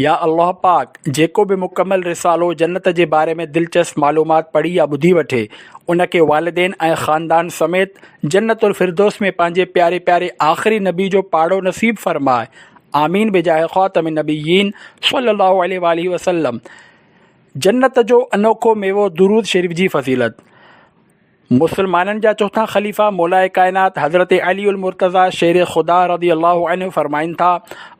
يا الله پاڪ جيڪو به مڪمل رسالو جنت جي باري ۾ دلچسپ معلومات پڙهي يا ٻڌي وٺي ان کي والدين ۽ خاندان سميت جنت الفردوس ۾ پنهنجي پياري پياري آخري نبي جو پاڙو نصيب فرماء آمين بجاهه خاتم النبيين صلي الله عليه واٰله وسلم جنت جو انوکو ميوو درود شريف جي فضيلت مسلمانن جا چوٿان خليفه مولائي ڪائنات حضرت علي المرتضيٰ شير خدا رضي الله عنه فرمائن ٿا،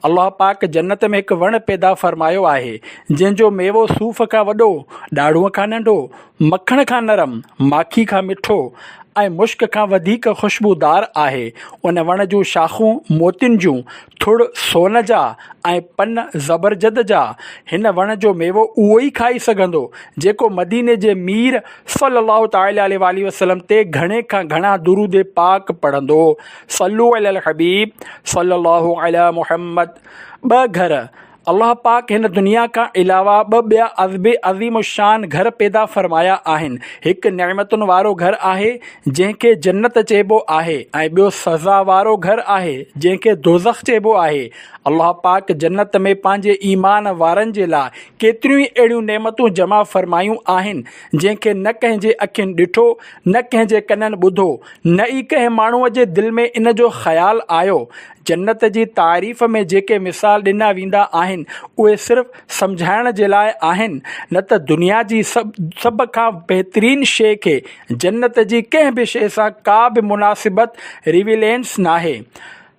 الله پاڪ جنت ۾ هڪ وڻ پيدا فرمايو آهي، جنهن جو ميوو صوف کان وڏو، ڏاڙهونء کان ننڍو، مکڻ کان نرم، ماکي کان مٺو ۽ مشڪ کان وڌيڪ خوشبودار آهي. ان وڻ جون شاخون موتين جون، ٿڙ سون جا ۽ پن زبرجد جا. هن وڻ جو ميوو اهو ئي کائي سگهندو، جيڪو مديني جي مير صلّي الله تعالٰي عليه واٰله وسلّم تي گهڻي کان گهڻا درود پاڪ پڙهندو هو صلّو علي الحبيب صلّي الله علي محمّد ٻه گهر، الله پاڪ هن دنيا کان علاوه ٻه ٻيا عزب عظيم الشّان گهر پيدا فرمايا آهن، هڪ نعمتن وارو گهر آهي جنهن کي جنّت چئبو آهي ۽ ٻيو سزا وارو گهر آهي جنهن کي دوزخ چئبو آهي. الله پاڪ جنت ۾ پنهنجي ايمان وارن جي لاء ڪيتريون ئي اهڙيون نعمتون جمع فرمايون آهن، جنهن کي نه ڪنهن جي اکين ڏٺو، نه ڪنهن جي ڪنن ٻڌو، نه ئي ڪنهن ماڻهوء جي دل ۾ ان جو خيال آيو. جنت جي تعريف ۾ جيڪي مثال ڏنا ويندا آهن، اهي صرف سمجهائڻ جي لاء آهن، نه ته دنيا جي سڀ کان بهترين شيء کي جنت جي ڪنهن به شيء سان ڪا به مناسبت، Revelance، ناهي.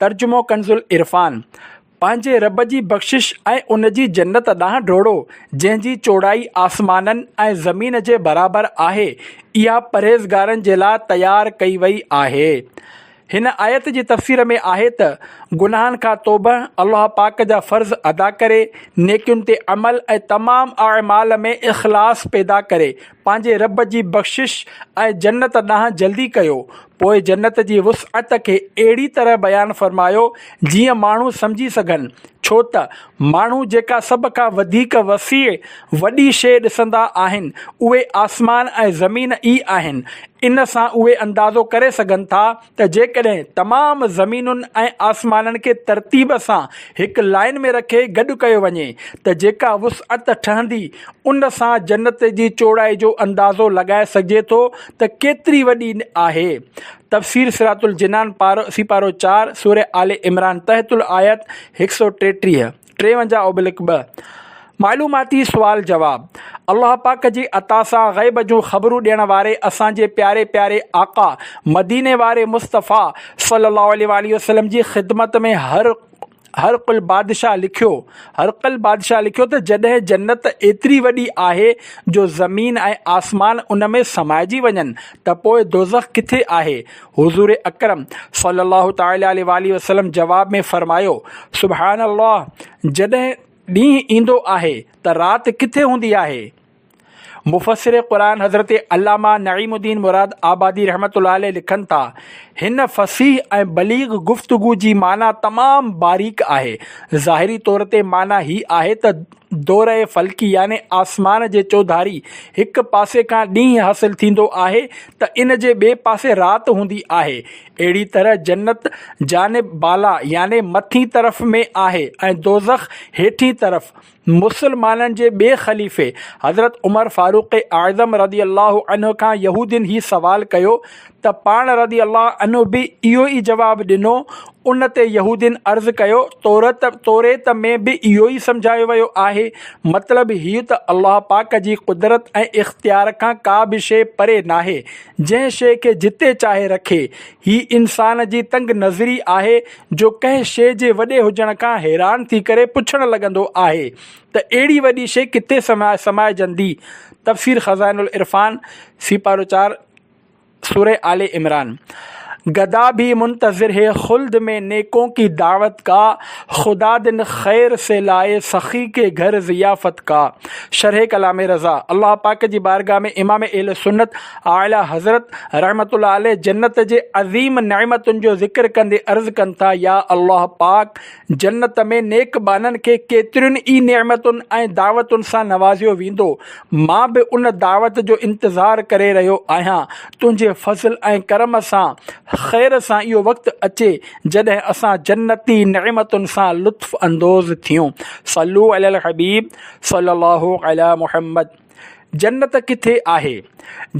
ترجمو ڪنز العرفان، پنهنجي رب جي بخشش ۽ ان جي جنت ڏانهن ڊوڙو، جنهن جي چوڙائي آسمانن ۽ زمين جي برابر آهي، اها پرهيزگارن جي لاء تيار ڪئي وئي آهي. هن آيت جي تفسير ۾ آهي ته، گناهن کان توبه، الله پاڪ جا فرض ادا ڪري، نيڪين تي عمل ۽ تمام اعمال ۾ اخلاص پيدا ڪري، پنهنجي رب جي بخشش ۽ جنت ڏانهن جلدي ڪيو، پوء جنت جي وسعت کي اهڙي طرح بيان فرمايو جيئن ماڻهو سمجهي سگهن، ڇوته ماڻهو جيڪا سڀ کان وڌيڪ وسيع، وڏي، شيء ڏسندا آهن، اهي آسمان ۽ زمين ئي آهن، ان سان اهي اندازو ڪري سگهن ٿا، ته جيڪڏهن تمام زمينن ۽ آسمانن کي ترتيب سان هڪ لائين ۾ رکي گڏ ڪيو وڃي ته جيڪا وسعت ٺهندي ان سان جنت جي چوڙائي جو اندازو لڳائي سگهجي ٿو ته ڪيتري وڏي آهي تفسير صراط الجنان پارو سيپارو چار، سورة آل عمران تحت الآيات هڪ سؤ ٽيٽيهه. ٽيونجاهه اوبلڪ ٻه، معلوماتي سوال جواب، الله پاڪ جي عطا سان غيب جون خبرون ڏيڻ واري اسان جي پياري پياري آقا مديني واري مصطفيٰ صلّي اللّٰه عليه واٰله وسلّم جي خدمت ۾ هر هرقل بادشاهه لکيو هرقل بادشاهه لکيو ته جڏهن جنّت ايتري وڏي آهي جو زمين ۽ آسمان ان ۾ سمائجي وڃن ته پوء دوزخ ڪٿي آهي؟ حضور اڪرم صلي الله تعالٰي عليه واٰله وسلم جواب ۾ فرمايو، سبحان الله جڏهن ڏينهن ايندو آهي ته رات ڪٿي هوندي آهي؟ مفسر قرآن حضرت علامه نعيم الدين مراد آبادي رحمة الله عليه لکن ٿا، هن فصيح ۽ بليغ گفتگو جي معنيٰ تمام باريڪ آهي، ظاهري طور تي معنيٰ هي آهي ته، دوره فلڪي يعني آسمان جي چوڌاري هڪ پاسي کان ڏينهن حاصل ٿيندو آهي ته ان جي ٻئي پاسي رات هوندي آهي. اهڙي طرح جنت جانب بالا يعني مٿين طرف ۾ آهي ۽ دوزخ هيٺين طرف. مسلمانن جي ٻئي خليفي حضرت عمر فاروق اعظم رضي الله عنه کان يهودين هي سوال ڪيو ته پاڻ رضي الله عنه به اهو ئي جواب ڏنو، ان تي يهودين عرض ڪيو، تورت، توريت، ۾ به اهو ئي سمجهايو ويو آهي، مطلب هيء ته الله پاڪ جي قدرت ۽ اختيار کان ڪا به شيء پري ناهي، جنهن شيء کي جتي چاهي رکي، هي انسان جي تنگ نظري آهي جو ڪنهن شيء جي وڏي هجڻ کان حيران ٿي ڪري پڇڻ لڳندو آهي ته اهڙي وڏي شيء ڪٿي سمائجندي؟ تفسير خزائن العرفان، سيپارو چار، سورة آل عمران، گدا ڀي منتظر هي خلد مين نيڪون ڪي دعوت ڪا، خدا دن خير سي لائي سخي ڪي گهر ضيافت ڪا. شرح ڪلام رضا، الله پاڪ جي بارگاھ ۾ امام اهل سنت اعليٰ حضرت رحمة الله عليه جنت جي عظيم نعمتن جو ذڪر ڪندي عرض ڪن ٿا، يا الله پاڪ! جنت ۾ نيڪ ٻانهن کي ڪيترين ئي نعمتن ۽ دعوتن سان نوازيو ويندو. مان به ان دعوت جو انتظار ڪري رهيو آهيان. تنهنجي فضل ۽ ڪرم سان، خير سان اهو وقت اچي جڏهن اسان جنتي نعمتن سان لطف اندوز ٿيون. صلو علي الحبيب صلي الله علي محمد. جنت ڪٿي آهي؟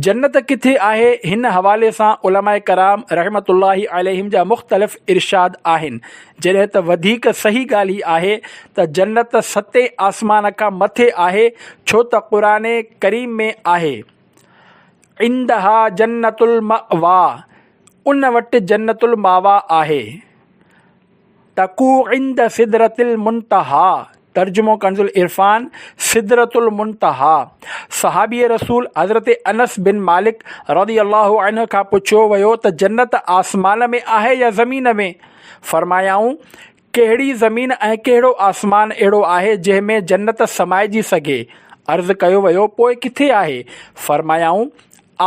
جنت ڪٿي آهي؟ هن حوالي سان علماء ڪرام رحمة الله عليهم جا مختلف ارشاد آهن، جڏهن ته وڌيڪ صحيح ڳالهه هي آهي ته جنت ستين آسمان کان مٿي آهي، ڇو ته قرآن ڪريم ۾ آهي، عندها جنت المأويٰ، ان وٽ جنت المأويٰ آهي. تڪو عند سدرة المنتهيٰ، ترجمو ڪنزالعرفان، سدرة المنتهيٰ، صحابي رسول حضرت انس بن مالڪ رضي الله عنه کان پڇيو ويو ته جنت آسمان ۾ آهي يا زمين ۾؟ فرمايائون، ڪهڙي زمين ۽ ڪهڙو آسمان اهڙو آهي جنهن ۾ جنت سمائجي سگهي؟ عرض ڪيو ويو، پوء ڪٿي آهي؟ فرمايائون،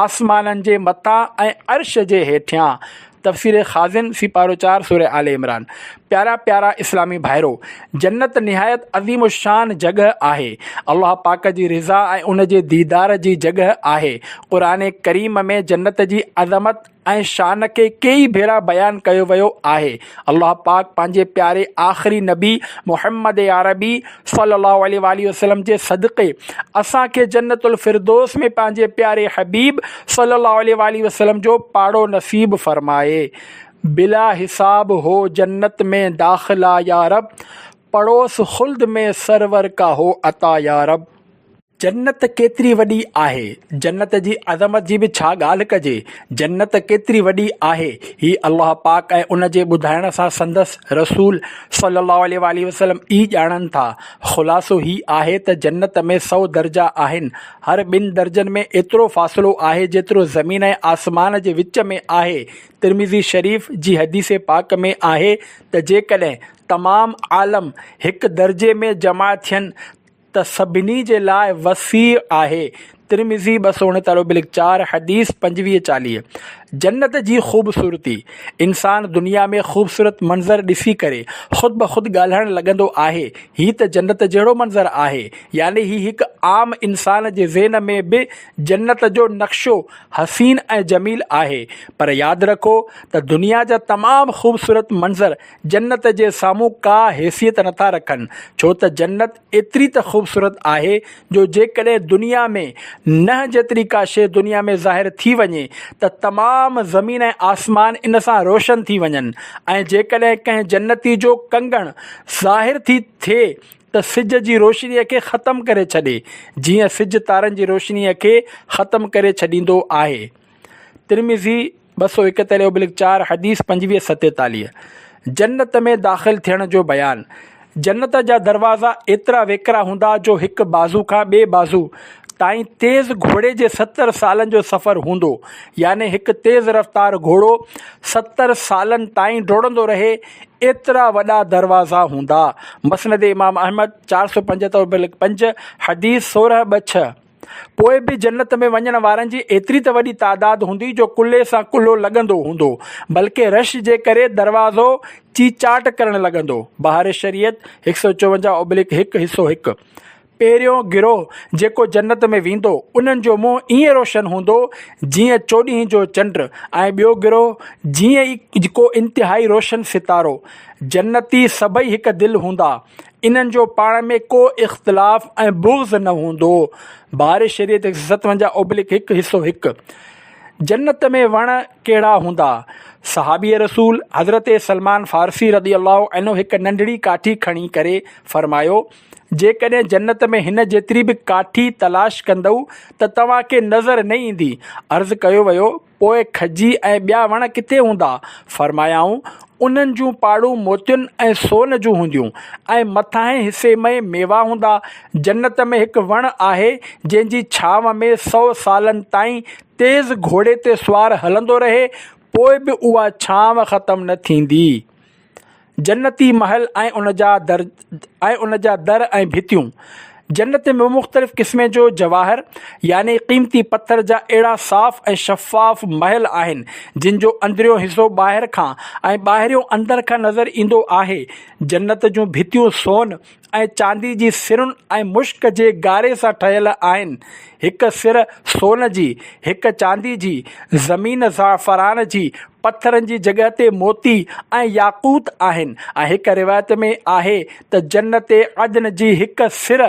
آسمانن جي مٿان ۽ عرش جي هيٺيان تفسير خازن سيپارو چار سوره آل عمران پيارا پيارا اسلامي ڀائرو! جنت نهايت عظيم الشان جڳهه آهي. الله پاڪ جي رضا ۽ ان جي ديدار جي جڳهه آهي. قرآن ڪريم ۾ جنت جي عظمت ۽ شان کي ڪيئي ڀيرا بيان ڪيو ويو آهي. الله پاڪ پنهنجي پياري آخري نبي محمد عربي صلي الله عليه واٰله وسلم جي صدقي اسان کي جنت الفردوس ۾ پنهنجي پياري حبيب صلي الله عليه واٰله وسلم جو پاڙو نصيب فرمائي. بلا حساب هو جنت مين داخلا يارب پڙوس خلد مين سرور ڪا هو عطا يارب. جنت ڪيتري وڏي آهي. جنت جي عظمت جي به ڇا ڳالهه ڪجي. جنت ڪيتري وڏي آهي. هي الله پاڪ ۽ ان جي ٻڌائڻ سان سندس رسول صلّي اللّٰه عليه واٰله وسلّم ئي ڄاڻن ٿا. خلاصو هي آهي ته جنت ۾ سؤ درجا آهن. هر ٻن درجن ۾ ايترو فاصلو آهي جيترو زمين ۽ آسمان جي وچ ۾ آهي. ترمذي شريف جي حديث پاڪ ۾ آهي ته جيڪڏهن تمام عالم هڪ درجي ۾ جمع ٿين ته. ته سڀني جي لاء وسيع آهي، ترمذي ٻه سؤ اڻيتاليهه بلڪ چار، حديث پنجويهه چاليهه، جنت جي خوبصورتي، انسان دنيا ۾ خوبصورت منظر ڏسي ڪري خود بخود ڳالهائڻ لڳندو آهي، هي ته جنت جهڙو منظر آهي، يعني هي هڪ عام انسان جي ذهن ۾ به جنت جو نقشو حسين ۽ جميل آهي، پر ياد رکو ته دنيا جا تمام خوبصورت منظر جنت جي سامهون ڪا حيثيت نٿا رکن، ڇو ته جنت ايتري ته خوبصورت آهي جو جيڪڏهن دنيا ۾ ننهن جيتري ڪا شيء دنيا ۾ ظاهر ٿي وڃي ته تمام زمين ۽ آسمان ان سان روشن ٿي وڃن ۽ جيڪڏهن ڪنهن جنتي جو ڪنگڻ ظاهر ٿي ٿئي ته سج جي روشنيء کي ختم ڪري ڇڏي جيئن سج تارن جي روشنيء کي ختم ڪري ڇڏيندو آهي ترمذي. ٻه سؤ اڪهتر اوبلڪ چار حديث پنجويهه ستيتاليهه، جنت ۾ داخل ٿيڻ جو بيان، جنت جا دروازا ايترا ويڪرا هوندا جو هڪ بازو کان ٻئي بازو تائين تيز گهوڙي جي ستر سالن جو سفر هوندو يعني هڪ تيز رفتار گهوڙو ستر سالن تائين ڊوڙندو رهي ايترا وڏا دروازا هوندا مسند امام احمد چار سؤ پنجهتر اوبلڪ پنج حديث سورهن ٻه ڇهه. پوء به جنت ۾ وڃڻ وارن جي ايتري ته وڏي تعداد هوندي جو ڪلهي سان ڪلهو لڳندو هوندو، بلڪه رش جي ڪري دروازو چيچاٽ ڪرڻ لڳندو. بهار شريعت، هڪ سؤ چونجاهه اوبليڪ هڪ، حصو هڪ. پهريون گروهه جيڪو جنت ۾ ويندو، انهن جو منهن ائين روشن هوندو، جيئن چوڏهين جو چنڊ ۽ ٻيو گروهه جيئن ئي ڪو انتهائي روشن ستارو. جنتي سڀئي هڪ دل هوندا، انهن جو پاڻ ۾ ڪو اختلاف ۽ بغض نه هوندو هو. باري شريعت هڪ سئو ستونجاهه اوبلڪ هڪ حصو هڪ جنت ۾ وڻ ڪهڙا هوندا؟ صحابي رسول حضرت سلمان فارسي رضي الله عنه هڪ ننڍڙي ڪاٺي کڻي ڪري فرمايو، جيڪڏهن جنت ۾ هن جيتري به ڪاٺي تلاش ڪندؤ ته توهان کي نظر نه ايندي. عرض ڪيو ويو. پوء کجي ۽ ٻيا وڻ ڪٿي هوندا؟ فرمايائون، انهن جون پاڙون موتين ۽ سون جون هونديون ۽ مٿاهين حصي ۾ ميوا هوندا. جنت ۾ هڪ وڻ آهي، جنهن جي ڇانو ۾ سؤ سالن تائين تيز گهوڙي تي سوار هلندو رهي، پوء به اها ڇانو ختم نه ٿيندي. جنتي محل ۽ ان جا در ۽ ان جا در ۽ ڀتيون جنت ۾ مختلف قسمين جو جواهر يعني قيمتي پٿر جا اهڙا صاف ۽ شفاف محل آهن جن جو اندريون حصو ٻاهر کان ۽ ٻاهريون اندر کان نظر ايندو آهي جنت جون ڀتيون سون ۽ چاندي جي سرن ۽ مشڪ جي ڳاري سان ٺهيل آهن. هڪ سر سون جي، هڪ چاندي جي، زمين زعفران جي، پٿرن جي جڳهه تي موتي ۽ ياقوت آهن ۽ هڪ روايت ۾ آهي ته جنت عدن جي هڪ سر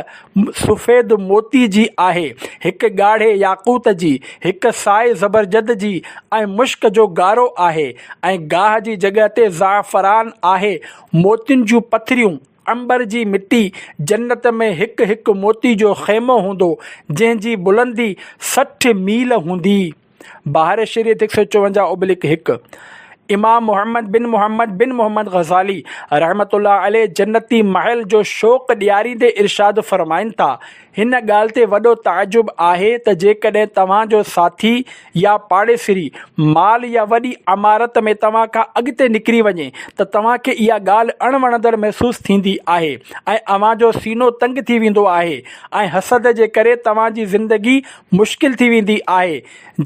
سفيد موتي جي آهي، هڪ ڳاڙهي ياقوت جي، هڪ سائي زبرجد جي ۽ مشڪ جو ڳارو آهي ۽ گاهه جي جڳهه تي زعفران آهي، موتين جون پٿريون. عنبر جي مٽي جنت ۾ هڪ هڪ موتي جو خيمو هوندو، جنهن جي بلندي سٺ ميل هوندي. بحر شريعت هڪ سؤ چوونجاهه ابلڪ هڪ امام محمد بن محمد بن محمد غزالي رحمة الله عليه جنتي محل جو شوق ڏياريندي ارشاد فرمائن ٿا، هن ڳالهه تي وڏو تعجب آهي ته جيڪڏهن توهان جو ساٿي يا پاڙيسري مال يا وڏي عمارت ۾ توهان کان اڳتي نڪري وڃي ته توهان کي اها ڳالهه اڻ وڻندڙ محسوس ٿيندي آهي ۽ اوهان جو سينو تنگ ٿي ويندو آهي ۽ حسد جي ڪري توهان جي زندگي مشڪل ٿي ويندي آهي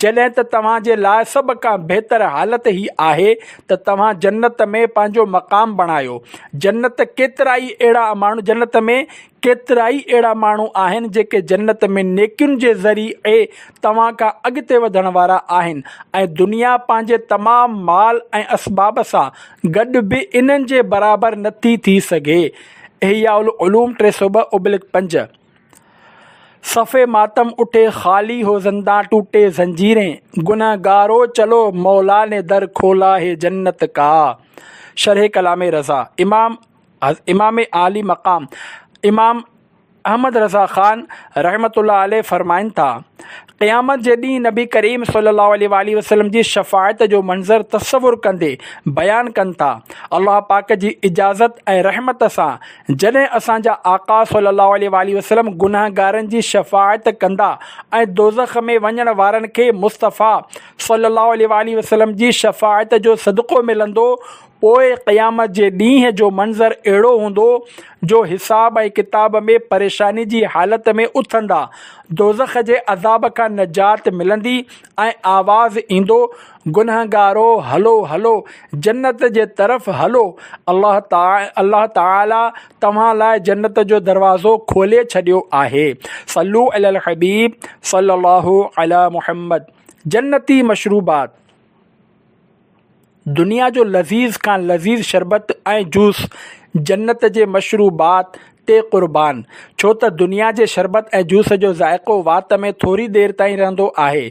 جڏهن ته توهان جي لاء سڀ کان بهتر حالت هي آهي ته توهان جنت ۾ پنهنجو مقام بڻايو جنت ڪيترائي اهڙا ماڻهو جنت ۾ ڪيترائي اهڙا ماڻهو آهن جيڪي جنت ۾ نيڪين جي ذريعي توهان کان اڳتي وڌڻ وارا آهن ۽ دنيا پنهنجي تمام مال ۽ اسباب سان گڏ به انهن جي برابر نٿي ٿي سگهي احياء العلوم ٽي سؤ ٻه اوبلڪ پنج صفحي ماتم اٺي خالي هو زندان ٽوٽي زنجيرين گنهگارو چلو مولا ني در کولا هي جنت ڪا شرح ڪلام رضا امام امام عالي مقام امام احمد رضا خان رحمة الله عليه فرمائن ٿا، قيامت جي ڏينهن نبي ڪريم صلي الله عليه وآله وسلم جي شفاعت جو منظر تصور ڪندي بيان ڪن ٿا، الله پاڪ جي اجازت ۽ رحمت سان جڏهن اسان جا آقا صلي الله عليه وآله وسلم گنهگارن جي شفاعت ڪندا ۽ دوزخ ۾ وڃڻ وارن کي مصطفيٰ صلي الله عليه وآله وسلم جي شفاعت جو صدقو ملندو پوء قيامت جي ڏينهن جو منظر اهڙو هوندو جو حساب ۽ ڪتاب ۾ پريشاني جي حالت ۾ اٿندا، دوزخ جي عذاب کان نجات ملندي ۽ آواز ايندو، گنهگارو! هلو هلو، جنت جي طرف هلو، الله تعالي توهان لاء جنت جو دروازو کولي ڇڏيو آهي. صلو علي الحبيب صلي الله علي محمد جنتي مشروبات. دنيا جو لذيذ کان لذيذ شربت ۽ جوس جنت جي مشروبات تي قربان ڇو ته دنيا جي شربت ۽ جوس جو ذائقو وات ۾ ٿوري دير تائين رهندو آهي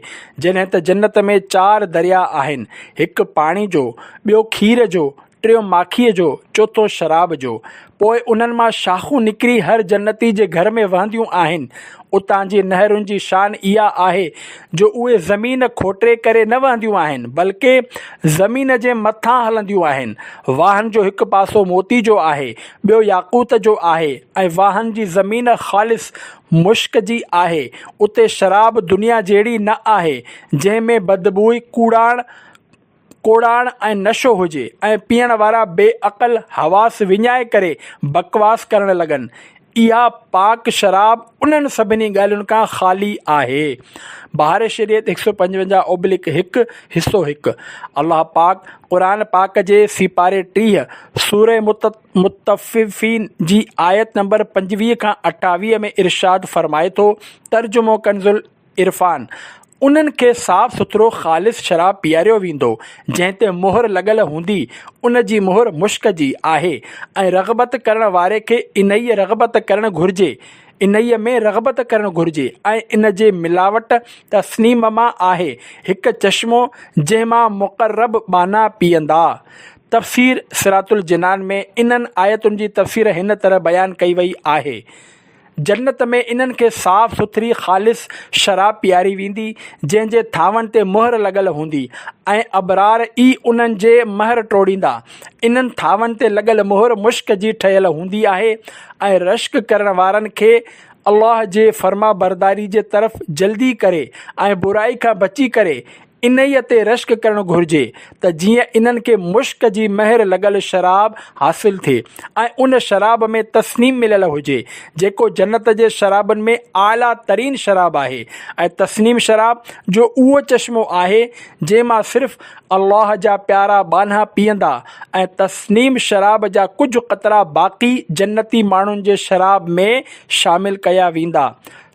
جڏهن ته جنت ۾ چار دريا آهن هڪ پاڻي جو ٻيو کير جو ٽيون ماکيء جو، چوٿون شراب جو. پوء انهن مان شاخون نڪري هر جنتي جي گهر ۾ وهنديون آهن. اتان جي نهرن جي شان اها آهي جو اهي زمين کوٽري ڪري نه وهنديون آهن، بلڪه زمين جي مٿان هلنديون آهن. واهن جو هڪ پاسو موتي جو آهي، ٻيو ياقوت جو آهي ۽ واهن جي زمين خالص مشڪ جي آهي. اتي شراب دنيا جهڙي نه آهي، جنهن ۾ بدبوء، ڪوڙاڻ، ڪوڙاڻ ۽ نشو هجي ۽ پيئڻ وارا بي عقل حواس وڃائي ڪري بڪواس ڪرڻ لڳن. اها پاڪ شراب انهن سڀني ڳالهين کان خالي آهي. بهار شريعت هڪ سؤ پنجونجاهه اوبلڪ هڪ، حصو هڪ، الله پاڪ قرآن پاڪ جي سيپاري ٽيهه، سورة مطففين جي آيت نمبر پنجويهه کان اٺاويهه ۾ ارشاد فرمائي ٿو، ترجمو ڪنز. عرفان، انهن کي صاف سٿرو خالص شراب پياريو ويندو، جنهن تي مهر لڳل هوندي، ان جي مهر مشڪ جي آهي ۽ رغبت ڪرڻ واري کي انهيء رغبت ڪرڻ گهرجي، انهيء ۾ رغبت ڪرڻ گهرجي ۽ ان جي ملاوٽ تسنيم مان آهي، هڪ چشمو جنهن مان مقرب ٻانها پيئندا. تفسير صراط الجنان ۾ انهن آيتن جي تفسير هن طرح بيان ڪئي وئي آهي. جنت ۾ انهن کي صاف سٿري خالص شراب پياري ويندي، جنهن جي ٿانون تي مهر لڳل هوندي ۽ ابرار ئي انهن جي مهر ٽوڙيندا. انهن ٿانون تي لڳل مهر مشڪ جي ٺهيل هوندي آهي ۽ رشڪ ڪرڻ وارن کي الله جي فرمانبرداري جي طرف جلدي ڪري ۽ برائي کان بچي ڪري انهيء تي رشڪ ڪرڻ گهرجي ته جيئن انهن کي مشڪ جي مهر لڳل شراب حاصل ٿئي ۽ ان شراب ۾ تسنيم مليل هجي، جيڪو جنت جي شرابن ۾ اعليٰ ترين شراب آهي ۽ تسنيم شراب جو اهو چشمو آهي، جنهن مان صرف الله جا پيارا ٻانها پيئندا ۽ تسنيم شراب جا ڪجهه قطرا باقي جنتي ماڻهن جي شراب ۾ شامل ڪيا ويندا.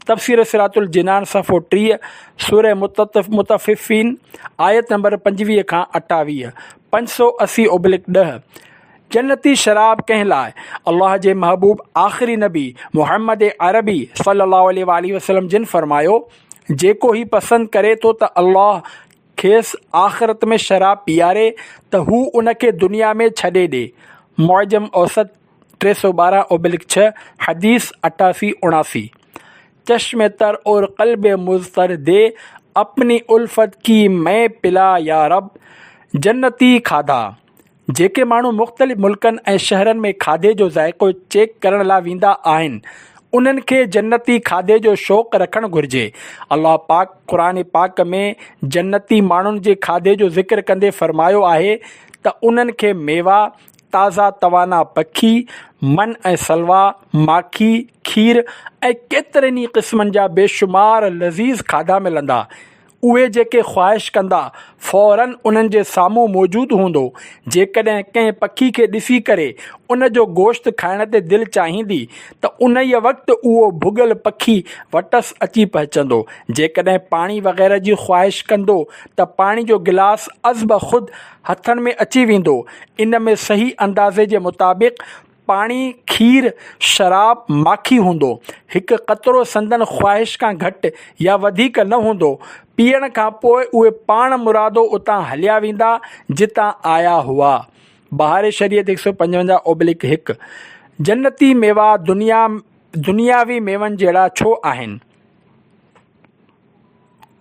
تفسير صراط الجنان صفحو ٽيهه، سورة مطففين، آيت نمبر پنجويهه کان اٺاويهه، پنج سؤ اسي ابلڪ ڏهه، جنتي شراب ڪنهن لاء؟ الله جي محبوب آخري نبي محمد عربي صلّي اللّٰه عليه واٰله وسلّم جن فرمايو، جيڪو هي پسند ڪري ٿو ته الله کيس آخرت ۾ شراب پيئاري ته هو ان کي دنيا ۾ ڇڏي ڏي. معجم اوسط، ٽي سؤ ٻارهن ابلڪ ڇهه، حديث اٺاسي اڻاسي، چشم تر اور قلب مضطر دي اپني الفت ڪي مئي پلا يارب جنتي کاڌا جيڪي ماڻهو مختلف ملڪن ۽ شهرن ۾ کاڌي جو ذائقو چيڪ ڪرڻ لا ويندا آهن انهن کي جنتي کاڌي جو شوق رکڻ گهرجي الله پاڪ قرآن پاڪ ۾ جنتي ماڻهن جي کاڌي جو ذڪر ڪندي فرمايو آهي ته انهن کي ميوا تازا توانا پکي، من ۽ سلوا، ماکي، کير ۽ ڪيترن ئي قسمن جا بيشمار لذيذ کاڌا ملندا. اهي جيڪي خواهش ڪندا، فوراً انهن جي سامهون موجود هوندو. جيڪڏهن ڪنهن پکي کي ڏسي ڪري ان جو گوشت کائڻ تي دل چاهيندي ته انهيء وقت اهو ڀڳل پکي وٽس اچي پهچندو. جيڪڏهن پاڻي وغيره جي خواهش ڪندو ته پاڻي جو گلاس ازبخود هٿن ۾ اچي ويندو. ان ۾ صحيح اندازي جي مطابق پاڻي، کير، شراب، ماکي هوندو. هڪ قطرو سندن خواهش کان گهٽ يا وڌيڪ نه هوندو. پيئڻ کان پوء اهي پاڻ مرادو اتان هليا ويندا جتان آيا هئا. بهار شريعت هڪ سؤ پنجونجاهه اوبليڪ هڪ، جنتي ميوا دنيا دنياوي ميون جهڙا ڇو آهن؟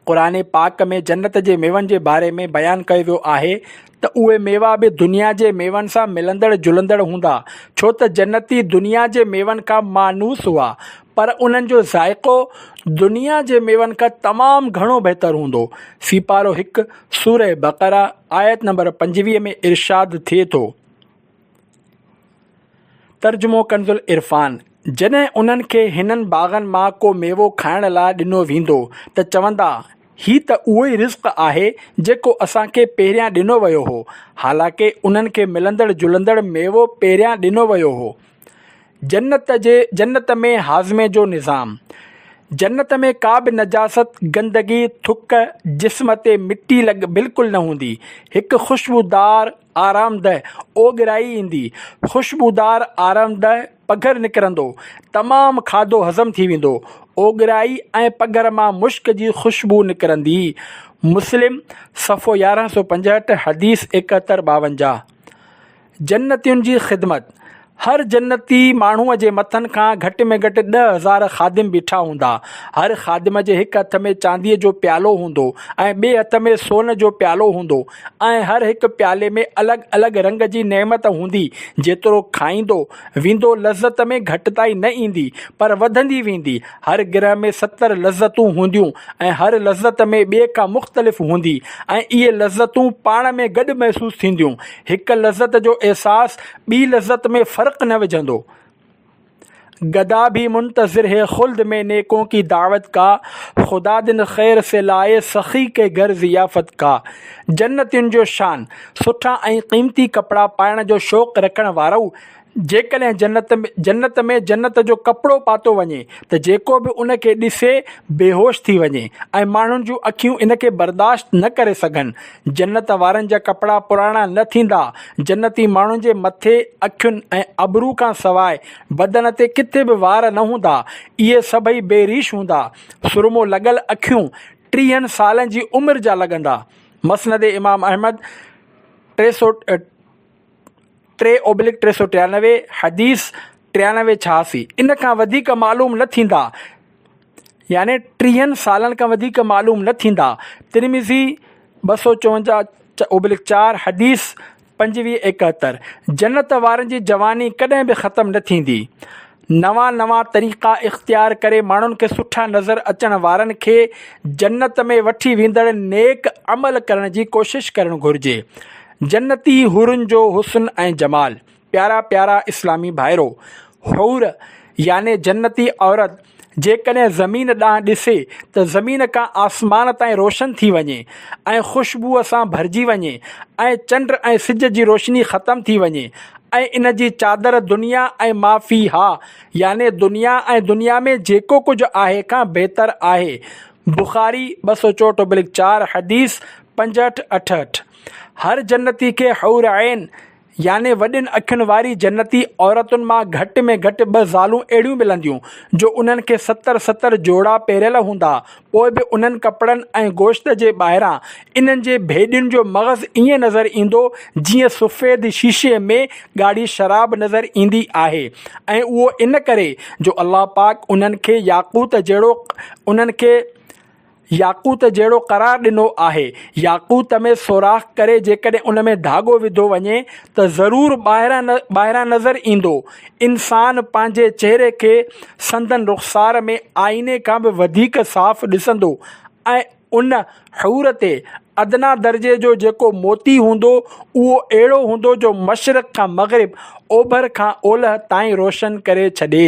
قرآن پاڪ ۾ جنت جي ميون جي باري ۾ بيان ڪيو ويو آهي ته اهي ميوا به دنيا جي ميون سان ملندڙ جلندڙ هوندا ڇو ته جنتي دنيا جي ميون کان مانوس هئا پر انهن جو ذائقو دنيا جي ميون کان تمام گهڻو بهتر هوندو سيپارو هڪ، سورة بقرة، آيت نمبر پنجويهه ۾ ارشاد ٿئي ٿو. ترجمو ڪنزالعرفان، جڏهن انهن کي هنن باغن مان ڪو ميوو کائڻ لاء ڏنو ويندو ته چوندا، هي ته اهو ئي رزق آهي جيڪو اسان کي پهريان ڏنو ويو هو، حالانڪه انهن کي ملندڙ جلندڙ ميوو پهريان ڏنو ويو هو. جنت جي جنت ۾ هاضمي جو نظام. جنت ۾ ڪا به نجاست، گندگي، ٿڪ، جسم تي مٽي لڳ بلڪل نه هوندي. هڪ خوشبودار آرامده اوڳرائي ايندي. خوشبودار آرامده پگهر نڪرندو. تمام کاڌو هضم ٿي ويندو. اوڳرائي ۽ پگهر مان مشڪ جي خوشبو نڪرندي. مسلم، صفحو يارهن سؤ پنجهٺ، حديث ايڪهتر ٻاونجاهه. جنتين جي خدمت، هر جنتي ماڻهوء جي مٿن کان گهٽ ۾ گهٽ ڏهه هزار خادم بيٺا هوندا. هر خادم جي هڪ هٿ ۾ چانديء جو پيالو هوندو ۽ ٻئي هٿ ۾ سون جو پيالو هوندو ۽ هر هڪ پيالي ۾ الڳ الڳ رنگ جي نعمت هوندي، جيترو کائيندو ويندو لذت ۾ گهٽتائي نه ايندي پر وڌندي ويندي، هر گرهه ۾ ستر لذتون هونديون ۽ هر لذت ۾ ٻئي کان مختلف هوندي ۽ اهي لذتون پاڻ ۾ گڏ محسوس ٿينديون، هڪ لذت جو احساس ٻي لذت ۾ فرق نه وجهندو. گدا ڀي منتظر هي خلد مين نيڪون ڪي دعوت ڪا، خدا دن خير سي لائي سخي ڪي گهر ضيافت ڪا. جنتين جو شان، سٺا ۽ قيمتي ڪپڙا پائڻ جو شوق رکڻ وارو جيڪڏهن جنت ۾ جنت ۾ جنت جو ڪپڙو پاتو وڃي ته جيڪو به ان کي ڏسي بيهوش ٿي وڃي ۽ ماڻهن جون اکيون ان کي برداشت نه ڪري سگهن. جنت وارن جا ڪپڙا پراڻا نه ٿيندا. جنتي ماڻهن جي مٿي، اکين ۽ ابرو کان سواء بدن تي ڪٿي به وار نه هوندا. اهي سڀئي بي ريش هوندا. سرمو لڳل اکيون ٽيهن سالن جي عمر جا لڳندا. مسند امام احمد ٽي سؤ. ٽي اوبلڪ ٽي سؤ ٽيانوي، حديث ٽيانوي ڇهاسي، ان کان وڌيڪ معلوم نه ٿيندا، يعني ٽيهن سالن کان وڌيڪ معلوم نه ٿيندا، ترمذي ٻه سؤ چونجاهه اوبلڪ چار، حديث پنجويهه ايڪهتر، جنت وارن جي جواني ڪڏهن به ختم نه ٿيندي، نوان نوان طريقا اختيار ڪري ماڻهن کي سٺا نظر اچڻ وارن کي جنت ۾ وٺي ويندڙ نيڪ عمل ڪرڻ جي ڪوشش ڪرڻ گهرجي جنتي حورن جو حسن ۽ جمال پيارا پيارا اسلامي ڀائرو حور يعني جنتي عورت جيڪڏهن زمين ڏانهن ڏسي ته زمين کان آسمان تائين روشن ٿي وڃي ۽ خوشبوء سان ڀرجي وڃي ۽ چنڊ ۽ سج جي روشني ختم ٿي وڃي ۽ ان جي چادر دنيا ۽ ما فيها يعني دنيا ۽ دنيا ۾ جيڪو ڪجهه آهي کان بهتر آهي، بخاري ٻه سؤ چوٽوبلڪ چار حديث پنجهٺ اٺهٺ، هر جنتي کي حور عين يعني وڏين اکين واري جنتي عورتن مان گهٽ ۾ گهٽ ٻه زالون اهڙيون ملنديون جو انهن کي ستر ستر جوڙا پهريل هوندا پوء به انهن ڪپڙن ۽ گوشت جي ٻاهران انهن جي ڀيڏين جو مغز ائين نظر ايندو جيئن سفيد شيشي ۾ ڳاڙهي شراب نظر ايندي آهي ۽ اهو ان ڪري جو الله پاڪ انهن کي ياقوت جهڙو انهن کي ياقوت جهڙو قرار ڏنو آهي ياقوت ۾ سوراخ ڪري جيڪڏهن ان ۾ ڌاڳو وڌو وڃي ته ضرور ٻاهران ٻاهران نظر ايندو انسان پنهنجي چهري کي سندن رخسار ۾ آئيني کان به وڌيڪ صاف ڏسندو ۽ ان حور تي ادنيٰ درجي جو جيڪو موتي هوندو، اهو اهڙو هوندو جو مشرق کان مغرب، اوڀر کان اولهه تائين روشن ڪري ڇڏي.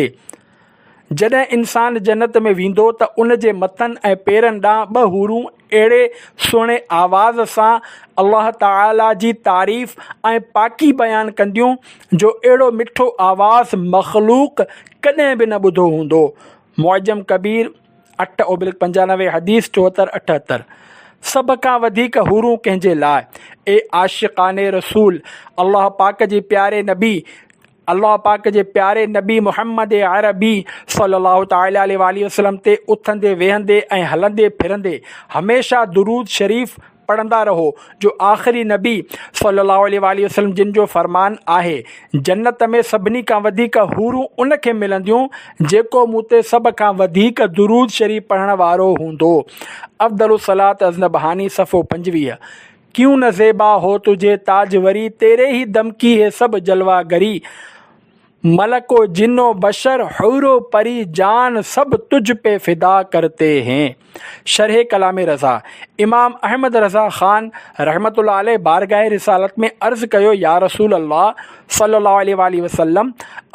جڏهن انسان جنت ۾ ويندو ته ان جي مٿن ۽ پيرن ڏانهن ٻه حورون اهڙي سهڻي آواز سان الله تعاليٰ جي تعريف ۽ پاڪي بيان ڪنديون جو اهڙو مٺو آواز مخلوق ڪڏهن به نه ٻڌو هوندو. معجم ڪبير، اٺ اوبلڪ پنجانوي، حديث چوهتر اٺهتر، سڀ کان وڌيڪ حورون ڪنهن جي لاء؟ اي عاشقان رسول! الله پاڪ جي پياري نبي! الله پاڪ جي پياري نبي محمد عربي صلي الله تعالٰي عليه واٰله وسلم تي اٿندي ويهندي ۽ هلندي ڦرندي هميشه درود شريف پڙهندا رهو جو آخري نبي صلي الله عليه واٰله وسلم جن جو فرمان آهي جنت ۾ سڀني کان وڌيڪ حورون ان کي ملنديون جيڪو مون تي سڀ کان وڌيڪ درود شريف پڙهڻ وارو هوندو افضل الصلات ازنبهاني صفحو پنجويهه ڪيون نه زيبا هو تجهي تاج وري تيري هي دمڪي هي سڀ جلوا گري ملڪ و جن و بشر حور و پري جان سڀ تجھ پي فدا ڪرتي هين شرح ڪلام رضا امام احمد رضا خان رحمة الله عليه بارگاهه رسالت ۾ عرض ڪيو يارسول الله صلي الله عليه واٰله وسلم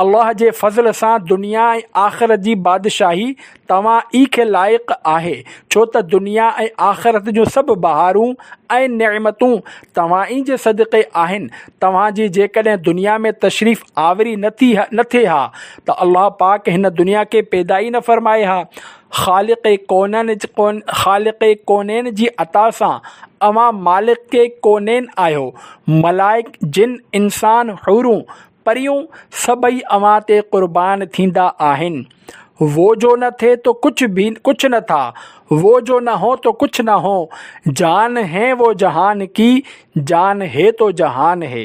الله جي فضل سان دنيا ۽ آخرت جي بادشاهي توهان ئي کي لائق آهي، ڇو ته دنيا ۽ آخرت جون سڀ بهارون ۽ نعمتون توهان ئي جي صدقي آهن، توهان جي جيڪڏهن دنيا ۾ تشريف آوري نه ٿي نه ٿئي ها ته الله پاڪ هن دنيا کي پيدا ئي نه فرمائي ها، خالق ڪونن خالق ڪونين جي عطا سان اوهان مالڪ ڪونين آهيو، ملائڪ، جن، انسان، حورون، پريون سڀئي اوهان تي قربان ٿيندا آهن. وو جو نه ٿي تو ڪڇ ڀي ڪڇ نه ٿا، وو جو نه هو تو ڪڇ نه هو، جان هين وو جهان ڪي، جان هي تو جهان هي.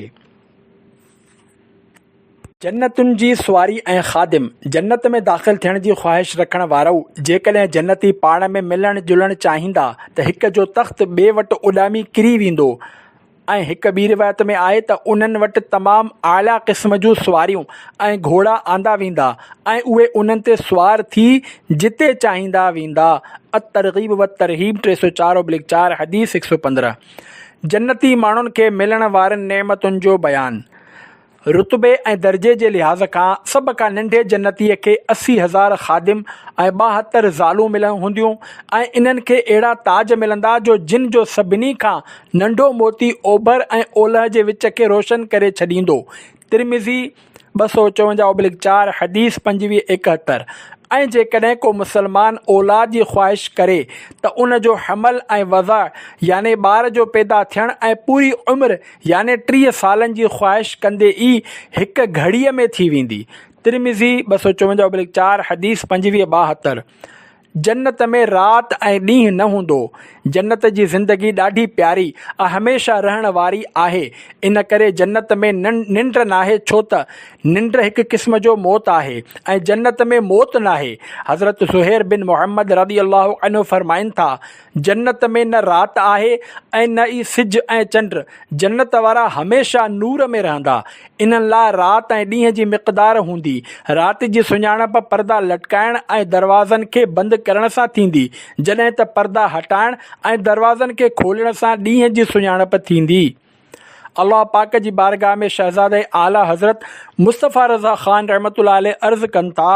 جنتن جي سواري ۽ خادم، جنت ۾ داخل ٿيڻ جي خواهش رکڻ وارؤ، جيڪڏهن جنتي پاڻ ۾ ملڻ جلڻ چاهيندا ته هڪ جو تخت ٻئي وٽ اڏامي ڪري ويندو. ۽ هڪ ٻي روايت ۾ آهي ته انهن وٽ تمام اعليٰ قسم جون سواريون ۽ گهوڙا آندا ويندا ۽ اهي انهن تي سوار ٿي جتي چاهيندا ويندا الترغيب والترهيب ٽي سؤ چار اوبليڪ چار، حديث هڪ سؤ پندرهن، جنتي ماڻهن کي ملڻ وارين نعمتن جو بيان، رتبي ۽ درجي جي لحاظ کان سڀ کان ننڍي جنتيء کي اسي هزار خادم ۽ ٻاهتر زالون مليون هونديون ۽ انهن کي اهڙا تاج ملندا جو جن جو سڀني کان ننڍو موتي اوڀر ۽ اولهه جي وچ کي روشن ڪري ڇڏيندو. ترمذي، ٻه سؤ چونجاهه اوبلڪ چار، حديث پنجويهه ايڪهتر، ۽ جيڪڏهن ڪو مسلمان اولاد جي خواهش ڪري ته ان جو حمل ۽ وضع يعني ٻار جو پيدا ٿيڻ ۽ پوري عمر يعني ٽيهه سالن جي خواهش ڪندي ئي هڪ گهڙيء ۾ ٿي ويندي. ترمذي، ٻه سؤ چونجاهه بلڪ چار، حديث پنجويهه ٻاهتر، جنت ۾ رات ۽ ڏينهن نه هوندو، جنت جي زندگي ڏاڍي پياري ۽ هميشه رهڻ واري آهي، ان ڪري جنت ۾ ننڊ ناهي ڇو ته ننڊ هڪ قسم جو موت آهي ۽ جنت ۾ موت ناهي، حضرت زهير بن محمد رضي الله عنه فرمائن ٿا، جنت ۾ نه رات آهي ۽ نه ئي سج ۽ چنڊ. جنت وارا هميشه نور ۾ رهندا. انهن لاء رات ۽ ڏينهن جي مقدار هوندي. رات جي سڃاڻپ پردا لٽڪائڻ ۽ دروازن کي بند ڪرڻ سان ٿيندي، جڏهن ته پردا هٽائڻ ۽ دروازن کي کولڻ سان ڏينهن جي سڃاڻپ ٿيندي. الله پاڪ جي بارگاهه ۾ شهزاده اعليٰ حضرت مصطفيٰ رضا خان رحمة الله عليه عرض ڪن ٿا.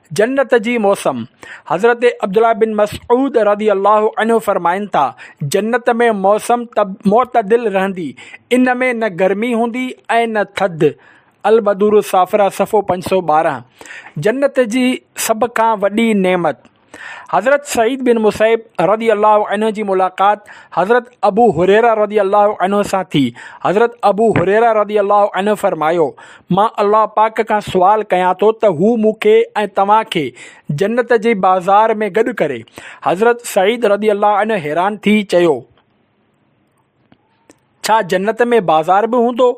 جنت جي موسم، حضرت عبدالله بن مسعود رضي الله عنه فرمائن ٿا، جنت ۾ موسم معتدل رهندي، ان ۾ نه گرمي هوندي ۽ نه ٿڌ، البدور الصافره صفحو پنج سؤ ٻارهن، جنت جي سڀ کان وڏي نعمت، حضرت سعيد بن مسيب رضي الله عنه جي ملاقات حضرت ابو هريره رضي الله عنه سان ٿي، حضرت ابو هريره رضي الله عنه فرمايو، مان الله پاڪ کان سوال ڪيان ٿو ته هو مون کي ۽ توهان کي جنت جي بازار ۾ گڏ ڪري. حضرت سعيد رضي الله عنه حيران ٿي چيو، ڇا جنت ۾ بازار به هوندو؟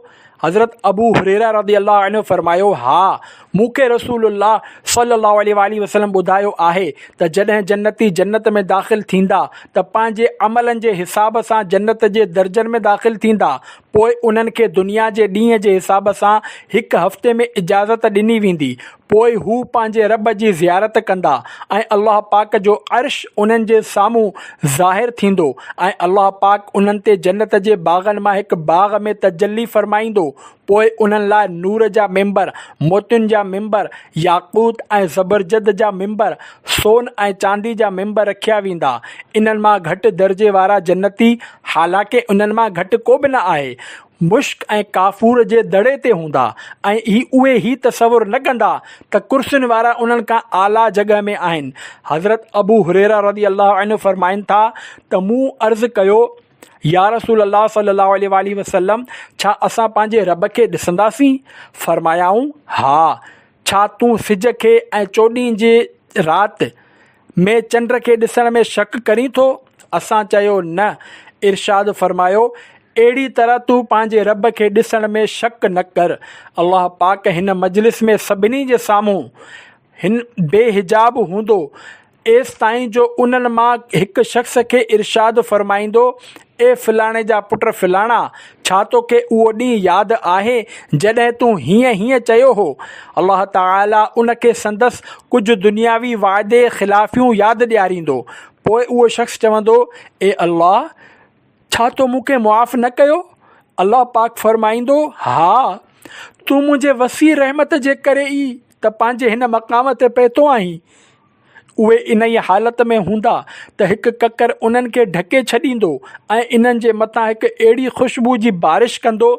حضرت ابو هريره رضي الله عنه فرمايو، ها، مون کي رسول الله صلّي اللّٰه عليه واٰله وسلّم ٻڌايو آهي ته جڏهن جنتي جنت ۾ داخل ٿيندا ته پنهنجي عملن جي حساب سان جنت جي درجن ۾ داخل ٿيندا، پوء انهن کي دنيا جي ڏينهن جي حساب سان هڪ هفتي ۾ اجازت ڏني ويندي، پوء هو پنهنجي رب جي زيارت ڪندا ۽ الله پاڪ جو عرش انهن جي سامهون ظاهر ٿيندو ۽ الله پاڪ انهن تي جنت جي باغن مان هڪ باغ ۾ تجلي فرمائيندو، پوء انهن لاء نور جا ممبر، موتين جا ممبر، ياقوت ۽ زبرجد جا ممبر، سون ۽ چاندي جا ممبر رکيا ويندا، انهن مان گهٽ درجي وارا جنتي حالانڪه انهن مان گهٽ ڪو به نه آهي، مشڪ ۽ ڪافور جي دڙي تي هوندا ۽ هي اهي هي تصور نه ڪندا ته ڪرسين وارا انهن کان اعليٰ جڳهه ۾ آهن. حضرت ابو هريره رضي الله عنه فرمائن ٿا ته مون عرض ڪيو، يا رسول الله صلي الله عليه واٰله وسلم! ڇا اسان پنهنجي رب کي ڏسنداسين؟ فرمايائون، ها! ڇا تون سج کي ۽ چوڏهين جي رات ۾ چنڊ کي ڏسڻ ۾ شڪ ڪرين ٿو؟ اسان چيو، نه. ارشاد فرمايو، اهڙي طرح تون پنهنجي رب کي ڏسڻ ۾ شڪ نه ڪر. الله پاڪ هن مجلس ۾ سڀني جي سامهون هن بي حجاب هوندو ايستائين جو انهن مان هڪ شخص کي ارشاد فرمائيندو، اي فلاڻي جا پٽ فلاڻا! ڇا توکي اهو ڏينهن ياد آهي، جڏهن تون هيئن هيئن چيو هو؟ الله تعاليٰ ان کي سندس ڪجهه دنياوي وعدي خلافيون ياد ڏياريندو. پوء اهو شخص چوندو، اي الله! ڇا تو مون کي معاف نه ڪيو؟ الله پاڪ فرمائيندو، ها! تون منهنجي وسيع رحمت جي ڪري ئي ته پنهنجي هن مقام تي پهتو آهين. اهي انهيء حالت ۾ هوندا ته هڪ ڪڪر انهن کي ڍڪي ڇڏيندو ۽ انهن جي مٿان هڪ اهڙي خوشبوء جي بارش ڪندو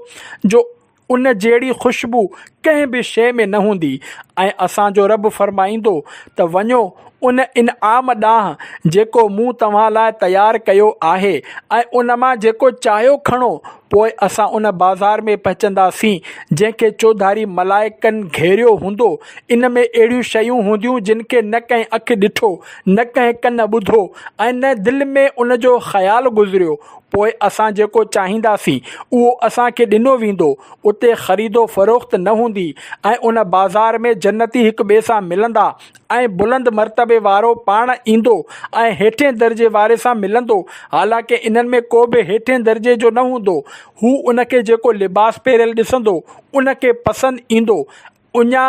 جو ان جهڙي خوشبوء ڪنهن به شيء ۾ نه هوندي ۽ اسان جو رب فرمائيندو ته وڃو ان انعام ڏانهن جيڪو مون توهان لاء تيار ڪيو آهي ۽ ان مان جيڪو چاهيو کڻو پوء اسان ان بازار ۾ پهچنداسين، جنهن کي چوڌاري ملائڪن گهيريو هوندو. ان ۾ اهڙيون شيون هونديون، جن کي نه ڪنهن اک ڏٺو، نه ڪنهن ڪن ٻڌو ۽ نه دل ۾ ان جو خيال گذريو. پوء اسان جيڪو چاهينداسين، اهو اسان کي ڏنو ويندو. اتي خريدو فروخت نه هوندي ۽ ان بازار ۾ جنتي هڪ ٻئي سان ملندا ۽ بلند مرتبي وارو پاڻ ايندو ۽ هيٺين درجي واري سان ملندو، حالانڪه انهن ۾ ڪو به هيٺين درجي جو نه هوندو، هو ان کي جيڪو لباس پهريل ڏسندو، ان کي پسند ايندو، اڃا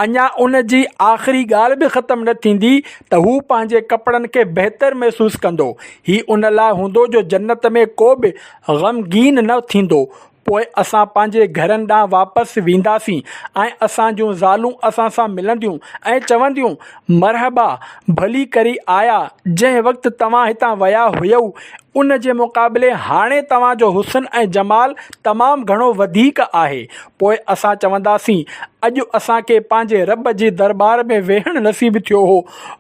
اڃا ان جي آخري ڳالهه به ختم نه ٿيندي ته هو پنهنجي ڪپڙن کي بهتر محسوس ڪندو، هي ان لاء هوندو جو جنت ۾ ڪو به غمگين نه ٿيندو، پوء اسان پنهنجي گهرن ڏانهن واپس وينداسين ۽ اسان جون زالون اسان سان ملنديون ۽ چونديون، مرحبا! ڀلي ڪري آيا، جنهن وقت توهان هتان ويا هيئو، ان جي مقابلي هاڻي توهان جو حسن ۽ جمال تمام گهڻو وڌيڪ آهي. پوء اسان چونداسين، اڄ اسان کي پنهنجي رب جي درٻار ۾ ويهڻ نصيب ٿيو هو،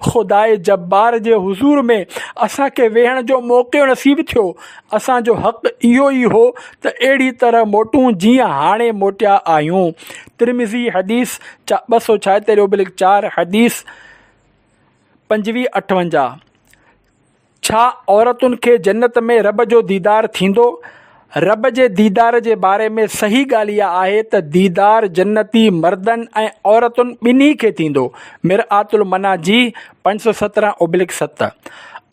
خداء جبار جي حضور ۾ اسان کي ويهڻ جو موقعو نصيب ٿيو اسان جو حق اهو ئي هو ته اهڙي طرح موٽون جيئن هاڻي موٽيا آهيون. ترمذي حديث چا ٻه سؤ ڇاهتر اوبلڪ چار حديث پنجويهه اٺونجاهه، ڇا عورتن کي جنت ۾ رب جو ديدار ٿيندو؟ رب جي ديدار جي باري ۾ صحيح ڳالهه اها آهي ته ديدار جنتي مردن ۽ عورتن ٻنهي کي ٿيندو. مرآت المناجيه پنج سؤ سترهن ابلڪ ست،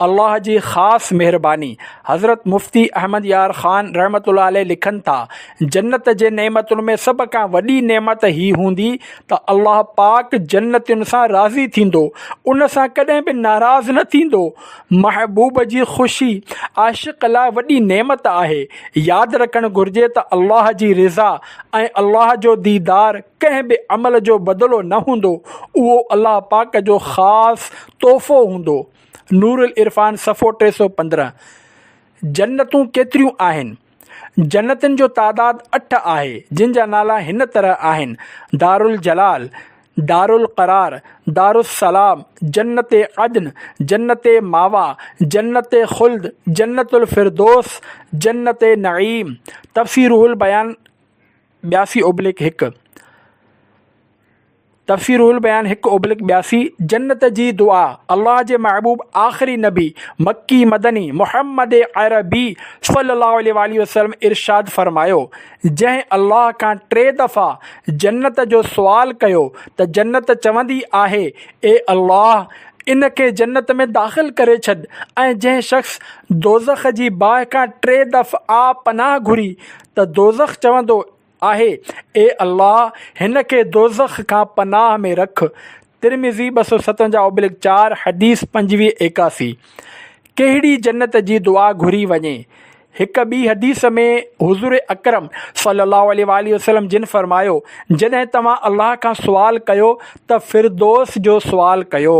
الله جي خاص مهرباني، حضرت مفتي احمد يار خان رحمة الله عليه لکن ٿا، جنت جي نعمتن ۾ سڀ کان وڏي نعمت هي هوندي ته الله پاڪ جنتين سان راضي ٿيندو، ان سان ڪڏهن به ناراض نه ٿيندو. محبوب جي خوشي عاشق لاء وڏي نعمت آهي. ياد رکڻ گهرجي ته الله جي رضا ۽ الله جو ديدار ڪنهن به عمل جو بدلو نه هوندو، اهو الله پاڪ جو خاص تحفو هوندو. نورالعرفان صفحو ٽي سؤ پندرهن جنتون ڪيتريون آهن؟ جنتن جو تعداد اٺ آهي، جن جا نالا هن طرح آهن، دارالجلال، دارالقرار، دارالسلام، جنت عدن، جنت ماويٰ، جنت خلد، جنت الفردوس، جنت نعيم. تفسيرروح البيان، ٻياسي اوبليڪ هڪ، تفسير روح البيان هڪ اوبليڪ ٻياسي، جنت جي دعا، الله جي محبوب آخري نبي مڪي مدني محمد عربي صلي الله عليه واٰله وسلم ارشاد فرمايو، جنهن الله کان ٽي دفعا جنت جو سوال ڪيو ته جنت چوندي آهي، اي الله! ان کي جنت ۾ داخل ڪري ڇڏ ۽ جنهن شخص دوزخ جي باهه کان ٽي دفعا پناهه گهري ته دوزخ چوندو آهي، اي الله! هن کي دوزخ کان پناهه ۾ رک. ترمذي ٻه سؤ ستونجاهه اوبلڪ چار، حديث پنجويهه ايڪاسي. ڪهڙي جنت جي دعا گهري وڃي؟ هڪ ٻي حديث ۾ حضور اڪرم صلّي اللّٰه عليه واٰله وسلّم جن فرمايو، جڏهن توهان الله کان سوال ڪيو ته فردوس جو سوال ڪيو.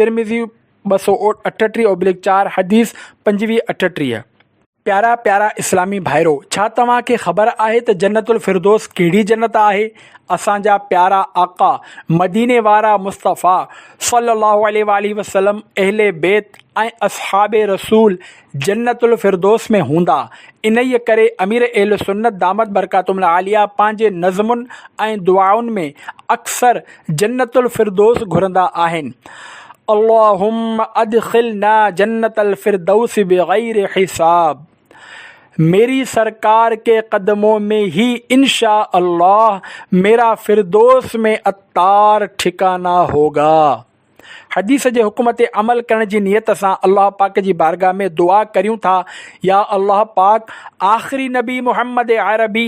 ترمذي ٻه سؤ اٺٽيهه اوبلڪ چار، حديث پنجويهه اٺٽيهه. پيارا پيارا اسلامي ڀائرو ڇا توهان کي خبر آهي ته جنت الفردوس ڪهڙي جنت آهي اسان جا پيارا آقا مديني وارا مصطفيٰ صلي الله عليه واٰله وسلم اهل بيت ۽ اصحاب رسول جنت الفردوس ۾ هوندا انهيء ڪري امير اهل سنت دامت برڪاتهم العاليه پنهنجي نظمن ۽ دعائن ۾ اڪثر جنت الفردوس گهرندا آهن. اللهم ادخلنا جنت الفردوس بغير حساب ميري سرڪار ڪي قدمون مين هي انشاء الله ميرا فردوس مين اتار ٺڪانا هوگا. حديث جي حڪم تي عمل ڪرڻ جي نيت سان الله پاڪ جي بارگاھ ۾ دعا ڪريون ٿا، يا الله پاڪ! آخري نبي محمد عربي